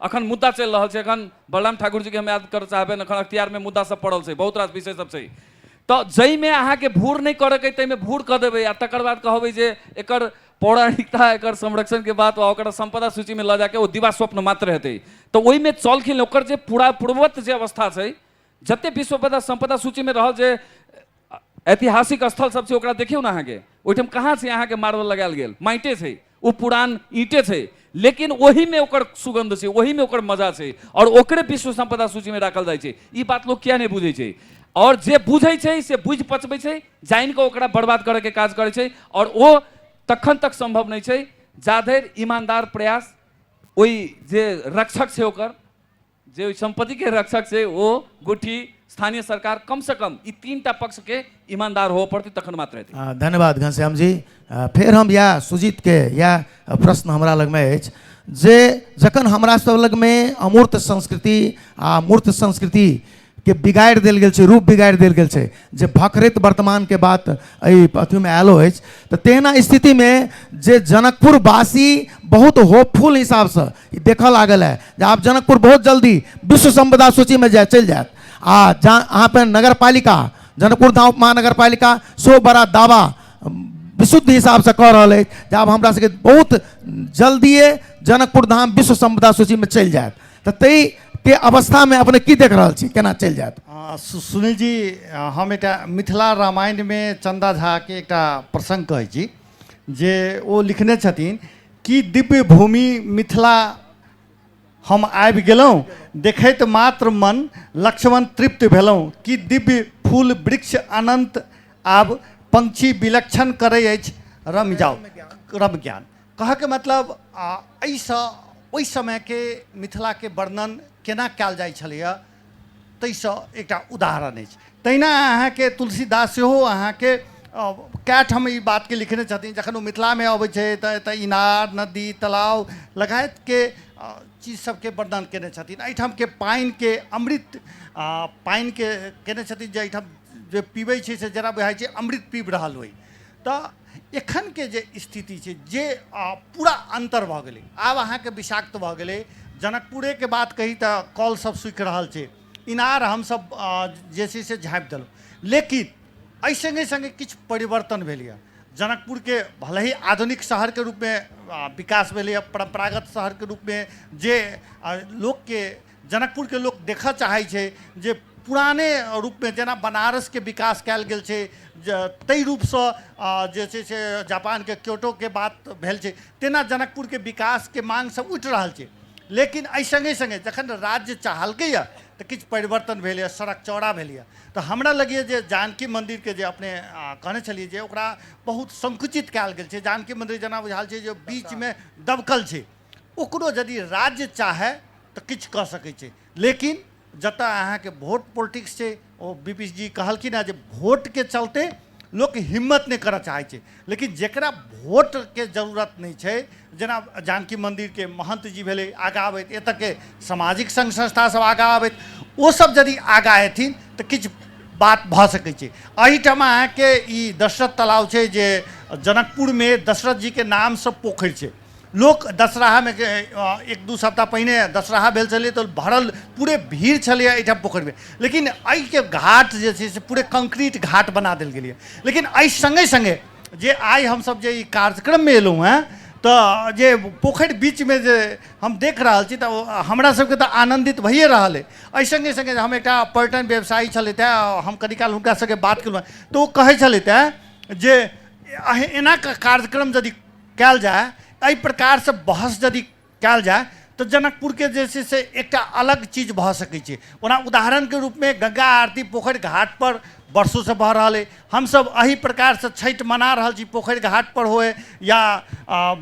अखन मुद्दा चलि रहल छै अखन बलराम ठाकुर जी के हम याद कर चाहबे अखन अख्तियार में मुद्दा सब पड़ल छै बहुत रास विषय सब छै तो जई में अहा के भूर नहीं करे के तई में भूर कर देबे आ तकर बाद कहबे जे एकर पौराणिकता एकर संरक्षण के बात ओकर संपदा सूची में ल जाके ओ दिवा स्वप्न मात्र हेतै तो ओई में चलखिन ओकर जे पूरा पूर्ववत जे अवस्था छै जते विश्व संपदा सूची में रहल जे आ- ऐतिहासिक स्थल सब छै ओकरा देखियौ ने अहाँके ओहिठाम कहाँ छै अहाँके मार्बल लगायल गेल माइटे छै ओ पुरान ईंटे छै लेकिन ओहिमे ओकर सुगंध छै ओहिमे ओकर मजा छै और ओकरे विश्व संपदा सूचीमे राखल जाइ छै ई बात लोक किया नहि बुझै छै और जे बुझै छै से बुझि पचबै छै जानि कऽ ओकरा बर्बाद करैके काज करै छै और ओ तखन तक संभव नहि छै जाधरि ईमानदार प्रयास ओहि जे रक्षक छै ओकर जे ओहि संपत्ति के रक्षक से ओ गुठी स्थानीय सरकार कम से कम ई तीन टा पक्ष के ईमानदार हो पड़ती तखन मात्र हेतै आ, धन्यवाद घनश्याम जी आ, फेर हम या सुजीत के या प्रश्न हमरा लगमे अछि जे जखन हमरा सब लगमे अमूर्त संस्कृति आ मूर्त संस्कृति के बिगाड़ि देल गेल छै रूप बिगाड़ि देल गेल छै जे भखरैत वर्तमानके बात एहि अथीमे आयलो अछि तऽ तहिना स्थितिमे जे जनकपुरवासी बहुत होपफुल हिसाबसँ ई देखऽ लागल है जे आब जनकपुर बहुत जल्दी विश्व संपदा सूचीमे जाय चलि जायत आ जा अहाँ पर नगर पालिका जनकपुर धाम महानगर पालिका सेहो बड़ा दावा विशुद्ध हिसाबसँ कऽ रहल अछि जे आब हमरा सबके बहुत जल्दिए जनकपुर धाम विश्व संपदा सूचीमे चलि जायत तऽ ताहि के अवस्थामे अपने की देख रहल छी केना चलि जायत आ, सु- सुनील जी आ, हम एकटा मिथिला रामायणमे चन्दा झाके एकटा प्रसङ्ग कहै छी जे ओ लिखने छथिन कि दिव्य भूमि मिथिला हम आबि गेलहुँ देखैत मात्र मन लक्ष्मण तृप्त भेलहुँ कि दिव्य फूल वृक्ष अनन्त आब पंक्षी विलक्षण करै अछि रम जाओ रम ज्ञान कहऽके मतलब आ, एहिसँ ओहि समयके मिथिलाके वर्णन केना कयल जाइ छलैए ताहिसँ एकटा उदाहरण अछि तहिना अहाँके तुलसीदास सेहो अहाँके अ, कए ठाम ई बातके लिखने छथिन जखन ओ मिथिलामे अबै छै तऽ एतऽ इनार नदी तालाब लगायतके अ, चीज सबके वर्णन केने छथिन एहिठामके पानिके अमृत आ, पानिके केने छथिन जे एहिठाम जे पीबै छै से जरा बुझाइ छै अमृत पीब रहल होइ तऽ एखनके जे स्थिति छै जे पूरा अन्तर भऽ गेलै आब अहाँके विषाक्त भऽ गेलै जनकपुरेके बात कही तऽ कल सब सूखि रहल छै इनार हमसब जे छै से झाँपि देलहुँ लेकिन एहि सङ्गे सङ्गे किछु परिवर्तन भेलैए जनकपुरके भले ही आधुनिक शहरके रूपमे विकास भेलैए परम्परागत शहरके रूपमे जे लोकके जनकपुर के लोग देखऽ चाहै छै जे पुराने रूप में जेना बनारस के विकास कयल गेल छै ज- ताहि रूप से अ, जे छै से जापान के क्योटो के बात भेल छै तेना जनकपुर के विकास के मांग सब उठि रहल छै लेकिन एहि संगे संगे जखन राज्य चाहलकै यऽ तऽ किछु परिवर्तन भेल यऽ सड़क चौड़ा भेल यऽ तऽ हमरा लगैए जे जानकी मंदिर के जे अपने अ, कहने छलियै जे ओकरा बहुत संकुचित कयल गेल छै जानकी मंदिर जेना बुझायल छै जे बीच में दबकल छै ओकरो जदि राज्य चाहय त किछु क सकैत छै लेकिन जतय अहाँके वोट पोलिटिक्स छै ओ बीपीश जी कहलखिन हँ जे वोटके चलते लोक हिम्मत नहि करऽ चाहै छै लेकिन जकरा वोटके जरूरत नहि छै जेना जानकी मन्दिरके महन्त जी भेलै आगाँ अबैत एतऽके सामाजिक सङ्घ संस्थासब आगाँ अबैत ओसब यदि आगाँ एथिन तऽ किछु बात भऽ सकै छै एहिठाम अहाँके ई दशरथ तलाव छै जे जनकपुरमे दशरथ जीके नामसँ पोखरि छै लोक दशराहामे एक दू सप्ताह पहिने दशराहा भेल छलै तऽ भरल पूरे भीड़ छलैए एहिठाम पोखरिमे लेकिन एहिके घाट जे छै से पूरे कंक्रीट घाट बना देल गेलै लेकिन एहि सङ्गे सङ्गे जे आइ हमसभ जे ई कार्यक्रममे अयलहुँ हेँ तऽ जे पोखरि बीचमे जे हम देख रहल छी तऽ हमरा सभके तऽ आनन्दित भइए रहल अइ एहि सङ्गे सङ्गे हम एकटा पर्यटन व्यवसायी छलथि हेँ हम कनी काल हुनका सभके बात केलहुँ हेँ तऽ ओ कहै छलथि हेँ जे एना कार्यक्रम यदि कयल जाय एहि प्रकारसँ बहस यदि कयल जाय तऽ जनकपुरके जे छै से एकटा अलग चीज भऽ सकै छै ओना उदाहरणके रूपमे गंगा आरती पोखरि घाटपर वर्षोसँ भऽ रहल अइ हमसभ एहि प्रकारसँ छठि मना रहल छी पोखरि घाटपर होय या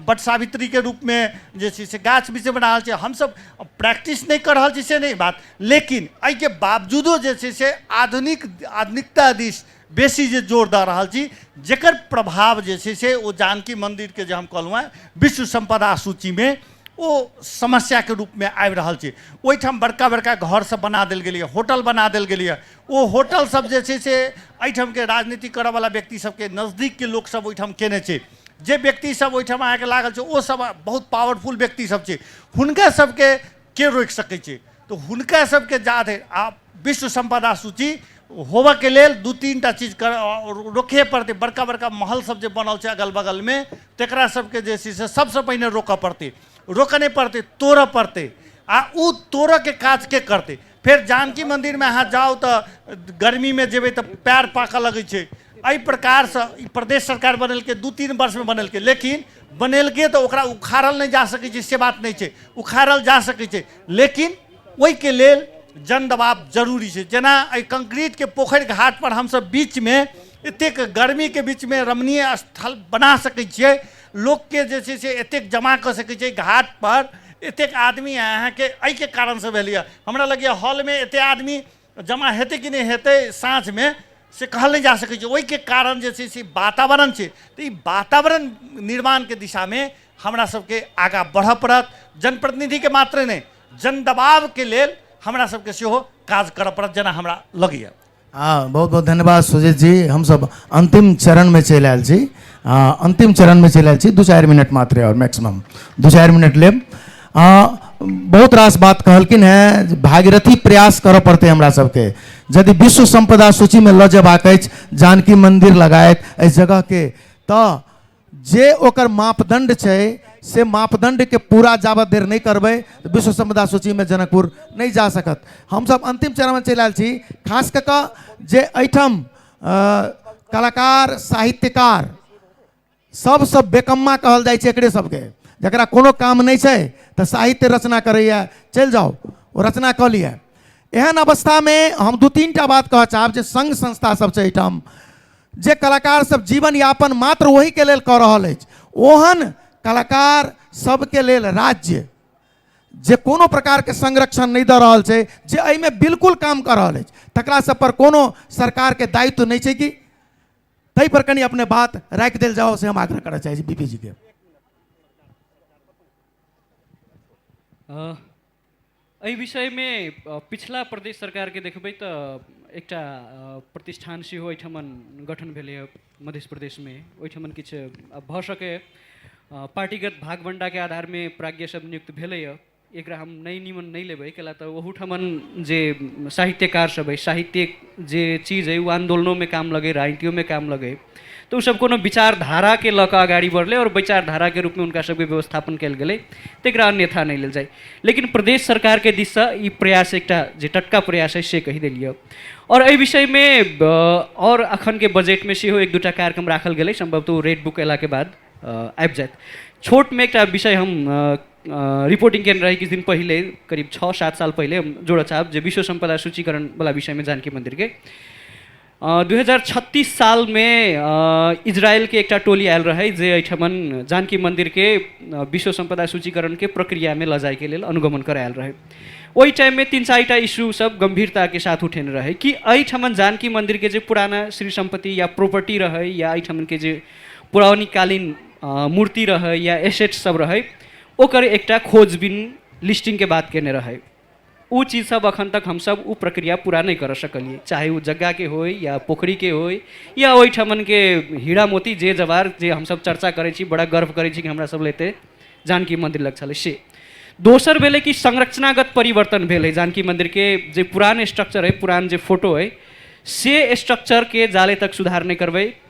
बट सावित्रीके रूपमे जे छै से गाछ वृक्ष बना रहल छी हमसभ प्रैक्टिस नहि कऽ रहल छी से नहि बात लेकिन एहिके बावजूदो जे छै से आधुनिक आधुनिकता दिस बेसी जे जोर दऽ रहल छी जकर प्रभाव जे छै से ओ जानकी मन्दिरके जे हम कहलहुँ हेँ विश्व सम्पदा सूचीमे ओ समस्याके रूपमे आबि रहल छै ओहिठाम बड़का बड़का घरसब बना देल गेलैए होटल बना देल गेलैए ओ होटलसब जे छै से एहिठामके राजनीति करऽवला व्यक्तिसबके नजदीकके लोकसब ओहिठाम केने छै जे व्यक्तिसब ओहिठाम अहाँके लागल छै ओसब बहुत पावरफुल व्यक्तिसब छै हुनकासबके के रोकि सकै छै तो हुनका सबके जात है आ विश्व संपदा सूची होबऽ के लेल दू तीन टा चीज कर रोके पड़तै बड़का बड़का महल सब जे बनल छै अगल बगल में तकरा सबके जे छै से सबसँ पहिने रोकऽ पड़तै रोकऽ नहि पड़तै तोड़ऽ पड़तै आ ओ तोड़ऽ के काज के करतै फेर जानकी मंदिर में अहाँ जाउ तऽ गर्मी में जेबै तऽ पैर पाकऽ लगै छै एहि प्रकारसँ ई प्रदेश सरकार बनेलकै दू तीन वर्षमे बनेलकै लेकिन बनेलकै तऽ ओकरा उखाड़ल नहि जा सकै छै से बात नहि छै उखाड़ल जा सकै छै लेकिन ओहिके लेल जन दबाव जरूरी छै जेना एहि कंक्रीटके पोखरि घाटपर हमसभ बीचमे एतेक गर्मीके बीचमे रमणीय स्थल बना सकै छियै लोकके जे छै से एतेक जमा कऽ सकै छियै घाटपर एतेक आदमी अहाँके एहिके कारणसँ भेलैए हमरा लगैए हॉलमे एतेक आदमी जमा हेतै कि नहि हेतै साँझमे से कहल नहि जा सकै छै ओहिके कारण जे छै से वातावरण छै तऽ ई वातावरण निर्माणके दिशामे हमरा सबके आगाँ बढ़ऽ पड़त जनप्रतिनिधिके मात्रे नहि जन दबावके लेल हमरा सबके सेहो काज करऽ पड़त जेना हमरा लगैए हँ बहुत बहुत धन्यवाद सुजीत जी हमसब अंतिम चरणमे चलि आयल छी हँ अंतिम चरणमे चलि आयल छी दू चारि मिनट मात्रे आओर मैक्सिमम दू चारि मिनट लेब हँ बहुत रास बात कहलखिन हेँ जे भागीरथी प्रयास करऽ पड़तै हमरा सबके यदि विश्व संपदा सूचीमे लऽ जेबाक अछि जानकी मन्दिर लगायत एहि जगहके तऽ जे ओकर मापदण्ड छै से मापदण्डके पूरा जाबत देर नहि करबै तऽ विश्व संपदा सूचीमे जनकपुर नहि जा सकत हमसब अन्तिम चरणमे चलि आयल छी खास कऽ कऽ जे एहिठाम अ, कलाकार साहित्यकार सभसँ बेकम्मा कहल जाइ छै एकरे सभके जकरा कोनो काम नहि छै तऽ साहित्य रचना करैए चलि जाउ ओ रचना कऽ लिअ एहन अवस्थामे हम दू तीन टा बात कहऽ चाहब जे संघ संस्था सब छै एहिठाम जे कलाकार सब जीवन यापन मात्र ओहिके लेल कऽ रहल अछि ओहन कलाकार सबके लेल राज्य जे कोनो प्रकारके संरक्षण नहि दऽ रहल छै जे एहिमे बिल्कुल काम कऽ रहल अछि तकरा सब पर कोनो सरकारके दायित्व नहि छै कि ताहि पर कनि अपने बात राखि देल जाओ से हम आग्रह करऽ चाहै छी बीपी जी के अ, एहि विषयमे अ, पिछला प्रदेश सरकारके देखबै तऽ एकटा अ, प्रतिष्ठान सेहो एहिठामन गठन भेलैए मध्य प्रदेशमे ओहिठामन किछु अ, भऽ सकैए अ, पार्टीगत भागभण्डाके आधारमे प्राज्ञसभ नियुक्त भेलैए एकरा हम नहि निमन नहि लेबै कैला तऽ ओहूठमन जे साहित्यकार सब अइ साहित्य जे चीज अइ ओ आन्दोलनोमे काम लगै राजनीतियोमे काम लगै तऽ ओसब कोनो विचारधाराके लऽ कऽ अगाड़ी बढ़लै आओर विचारधाराके रूपमे हुनका सबके व्यवस्थापन कयल गेलै तकरा अन्यथा नहि लेल जाइ लेकिन प्रदेश सरकारके दिससँ ई प्रयास एकटा जे टटका प्रयास अइ से कहि देलियै आओर एहि विषयमे आओर अखनके बजटमे सेहो एक दूटा कार्यक्रम राखल गेलै सम्भवतः ओ रेड बुक अयलाके बाद आबि जायत छोटमे एकटा विषय हम रिपोर्टिङ केन्द्र रहेँ किछु दिन पहिले करिब छ सात साल पहिले जोड चाहब जे विश्व सम्पदा सूचीकरणवला विषयमे जानकी मन्दिरके दुई हजार छत्तिस सालमे इजरायलके एकटा टोली आयल रहै जे एहिठाम जानकी मन्दिरके विश्व सम्पदा सूचीकरणके प्रक्रियामे लजाइके लेल अनुगमन करायल रहै ओहि टाइममे तिन चारिटा इस्युसभ गम्भीरताके साथ उठेने रहै कि एहिठाम जानकी मन्दिरके जे पुराना श्री सम्पत्ति या प्रोपर्टी रहै या एहिठामके जे पौराणिककालीन मूर्ति रहै या एसेट सब रहै ओकर एकटा खोजबीन लिस्टिंगके बात केने रहै ओ चीज सब अखन तक हमसब ओ प्रक्रिया पूरा नहि कऽ सकलियै चाहे ओ जग्गाके होइ या पोखरिके होइ या ओहिठमनके हीरा मोती जे जवार जे हमसब चर्चा करै छी बड़ा गर्व करै छी कि हमरा सब लए एते जानकी मन्दिर लग छलै से दोसर भेलै कि संरचनागत परिवर्तन भेल अइ जानकी मन्दिरके जे पुरान स्ट्रक्चर अइ पुरान जे फोटो अइ से स्ट्रक्चरके जाले तक सुधार नहि करबै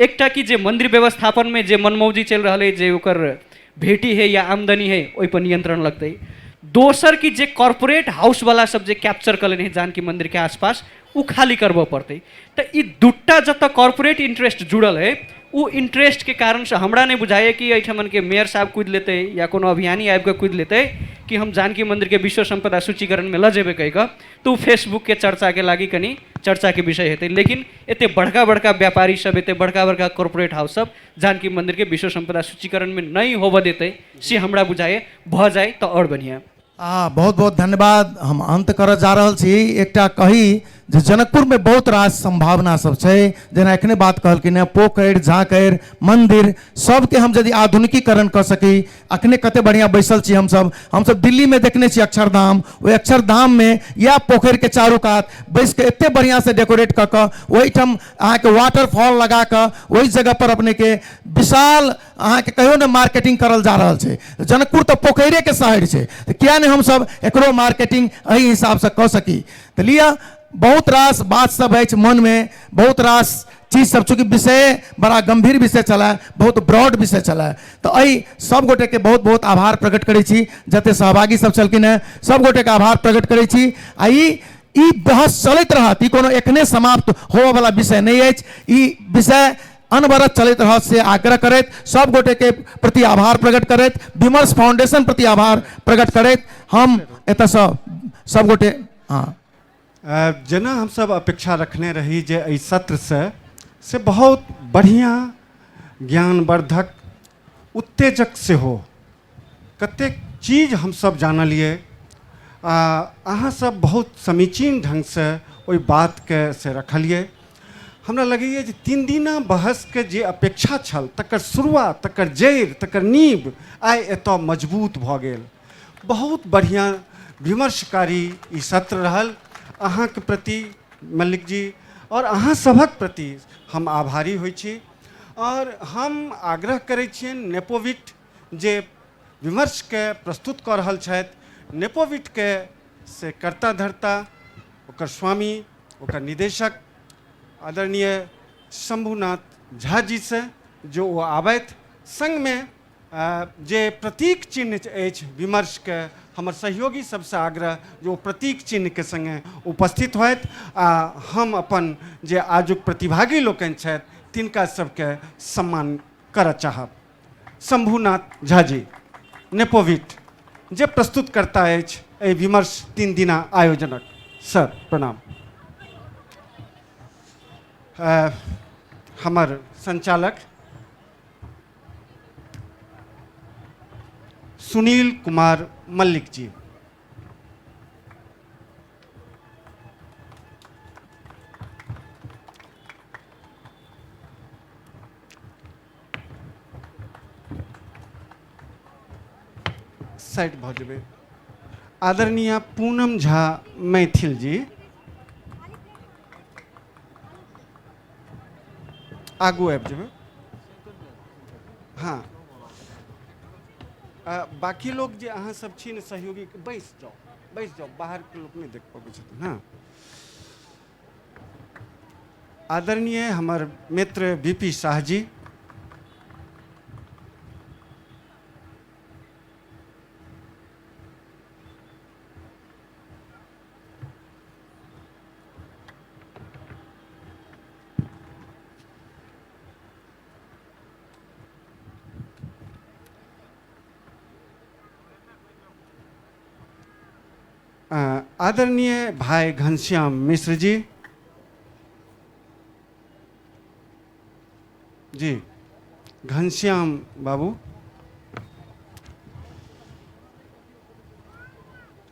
एकटा कि जे मन्दिर व्यवस्थापनमे जे मनमौजी चलि रहल अइ जे ओकर भेटी हइ या आमदनी हइ ओहिपर नियन्त्रण लगतै दोसर कि जे कॉर्पोरेट हाउसवला सब जे कैप्चर कऽ लेने हइ जानकी मन्दिरके आसपास ओ खाली करबऽ पड़तै तऽ ई दुटा जतऽ कॉर्पोरेट इन्टरेस्ट जुड़ल हइ ओ इन्टरेस्टके कारणसँ हमरा नहि बुझाइए कि एहिठामनके मेयर साहब कुदि लेतै या कोनो अभियानी आबिकऽ कुदि लेतै कि हम जानकी मन्दिरके विश्व सम्पदा सूचीकरणमे लऽ जेबै कहिकऽ तऽ ओ फेसबुकके चर्चाके लागि कनि चर्चाके विषय हेतै लेकिन एतेक बड़का बड़का व्यापारी सब एतेक बड़का बड़का कॉरपोरेट हाउस सब जानकी मन्दिरके विश्व सम्पदा सूचीकरणमे नहि होबऽ देतै से हमरा बुझाइए भऽ जाइ तऽ आओर बढ़िआँ आ बहुत बहुत धन्यवाद हम अन्त करऽ जा रहल छी एकटा कही जे जनकपुरमे बहुत रास सम्भावना सब छै जेना एखने बात कहलखिन हँ पोखरि झाँखरि मन्दिर सबके हम यदि आधुनिकीकरण कऽ सकी अखने कते बढ़िया बैसल छी हमसब हमसब दिल्ली में देखने छी अक्षरधाम ओहि अक्षरधाम में इएह पोखरि के चारू कात बैस के एते बढ़िया से डेकोरेट कऽ कऽ ओहिठाम अहाँके वाटरफॉल लगा कऽ ओहि जगह पर अपने के विशाल अहाँके कहियो ने मार्केटिंग करल जा रहल छै जनकपुर तऽ पोखरे के शहर छै तऽ किया ने हमसब एकरो मार्केटिंग एहि हिसाब से कऽ सकी तऽ लिअ बहुत रास बात सब अछि मन में बहुत रास चीज सब चूँकि विषय बड़ा गंभीर विषय छलै बहुत ब्रॉड विषय छलै तऽ एहि सब गोटेके बहुत बहुत आभार प्रकट करै छी जते सहभागी सब छलखिन हेँ सब गोटेके आभार प्रकट करै छी आ ई ई बहस चलैत रहत ई कोनो एखने समाप्त होबयवला विषय नहि अछि ई विषय अनवरत चलैत रहत से आग्रह करैत सब गोटेके प्रति आभार प्रकट करैत विमर्श फाउंडेशन प्रति आभार प्रकट करैत हम एतयसँ सब गोटे हँ जेना हमसभ अपेक्षा रखने रही जे एहि सत्रसँ से बहुत बढ़िआँ ज्ञानवर्धक उत्तेजक सेहो कतेक चीज हमसभ जानलिए आ अहाँसभ बहुत समीचीन ढङ्गसँ ओहि बातके से रखलिए हमरा लगैए जे तीन दिना बहसके जे अपेक्षा छल तकर शुरुआत तकर जड़ि तकर नीब आइ एतऽ मजबूत भऽ गेल बहुत बढ़िया विमर्शकारी ई सत्र रहल अहाँके प्रति मल्लिक जी और अहाँ सभक प्रति हम आभारी होइ छी और हम आग्रह करै छियन नेपोविट जे विमर्श के प्रस्तुत कऽ रहल छथि नेपोविट के से कर्ता धर्ता ओकर स्वामी ओकर निदेशक आदरणीय शंभुनाथ झा जी से जो वो आबैत संग में जे प्रतीक चिन्ह अछि विमर्शके हमर सहयोगी सबसँ आग्रह जे ओ प्रतीक चिन्हके सङ्गे उपस्थित होथि आ हम अपन जे आजुक प्रतिभागी लोकनि छथि तिनका सबके सम्मान करऽ चाहब शम्भुनाथ झा जी नेपोविट जे प्रस्तुतकर्ता अछि एहि विमर्श तीन दिना आयोजनक सर प्रणाम हमर सञ्चालक सुनील कुमार मल्लिक जी साइड भऽ जेबै आदरणीय पूनम झा मैथिल जी आगू आबि जेबै हँ आ, बाकी लोग जे अहाँ सब छी ने सहयोगी बैस जाओ बैस जाओ बाहर के लोग नहीं देख पाबै छथिन हाँ आदरणीय हमर मित्र बीपी शाह जी अ, आदरणीय भाई घनश्याम मिश्र जी जी घनश्याम बाबू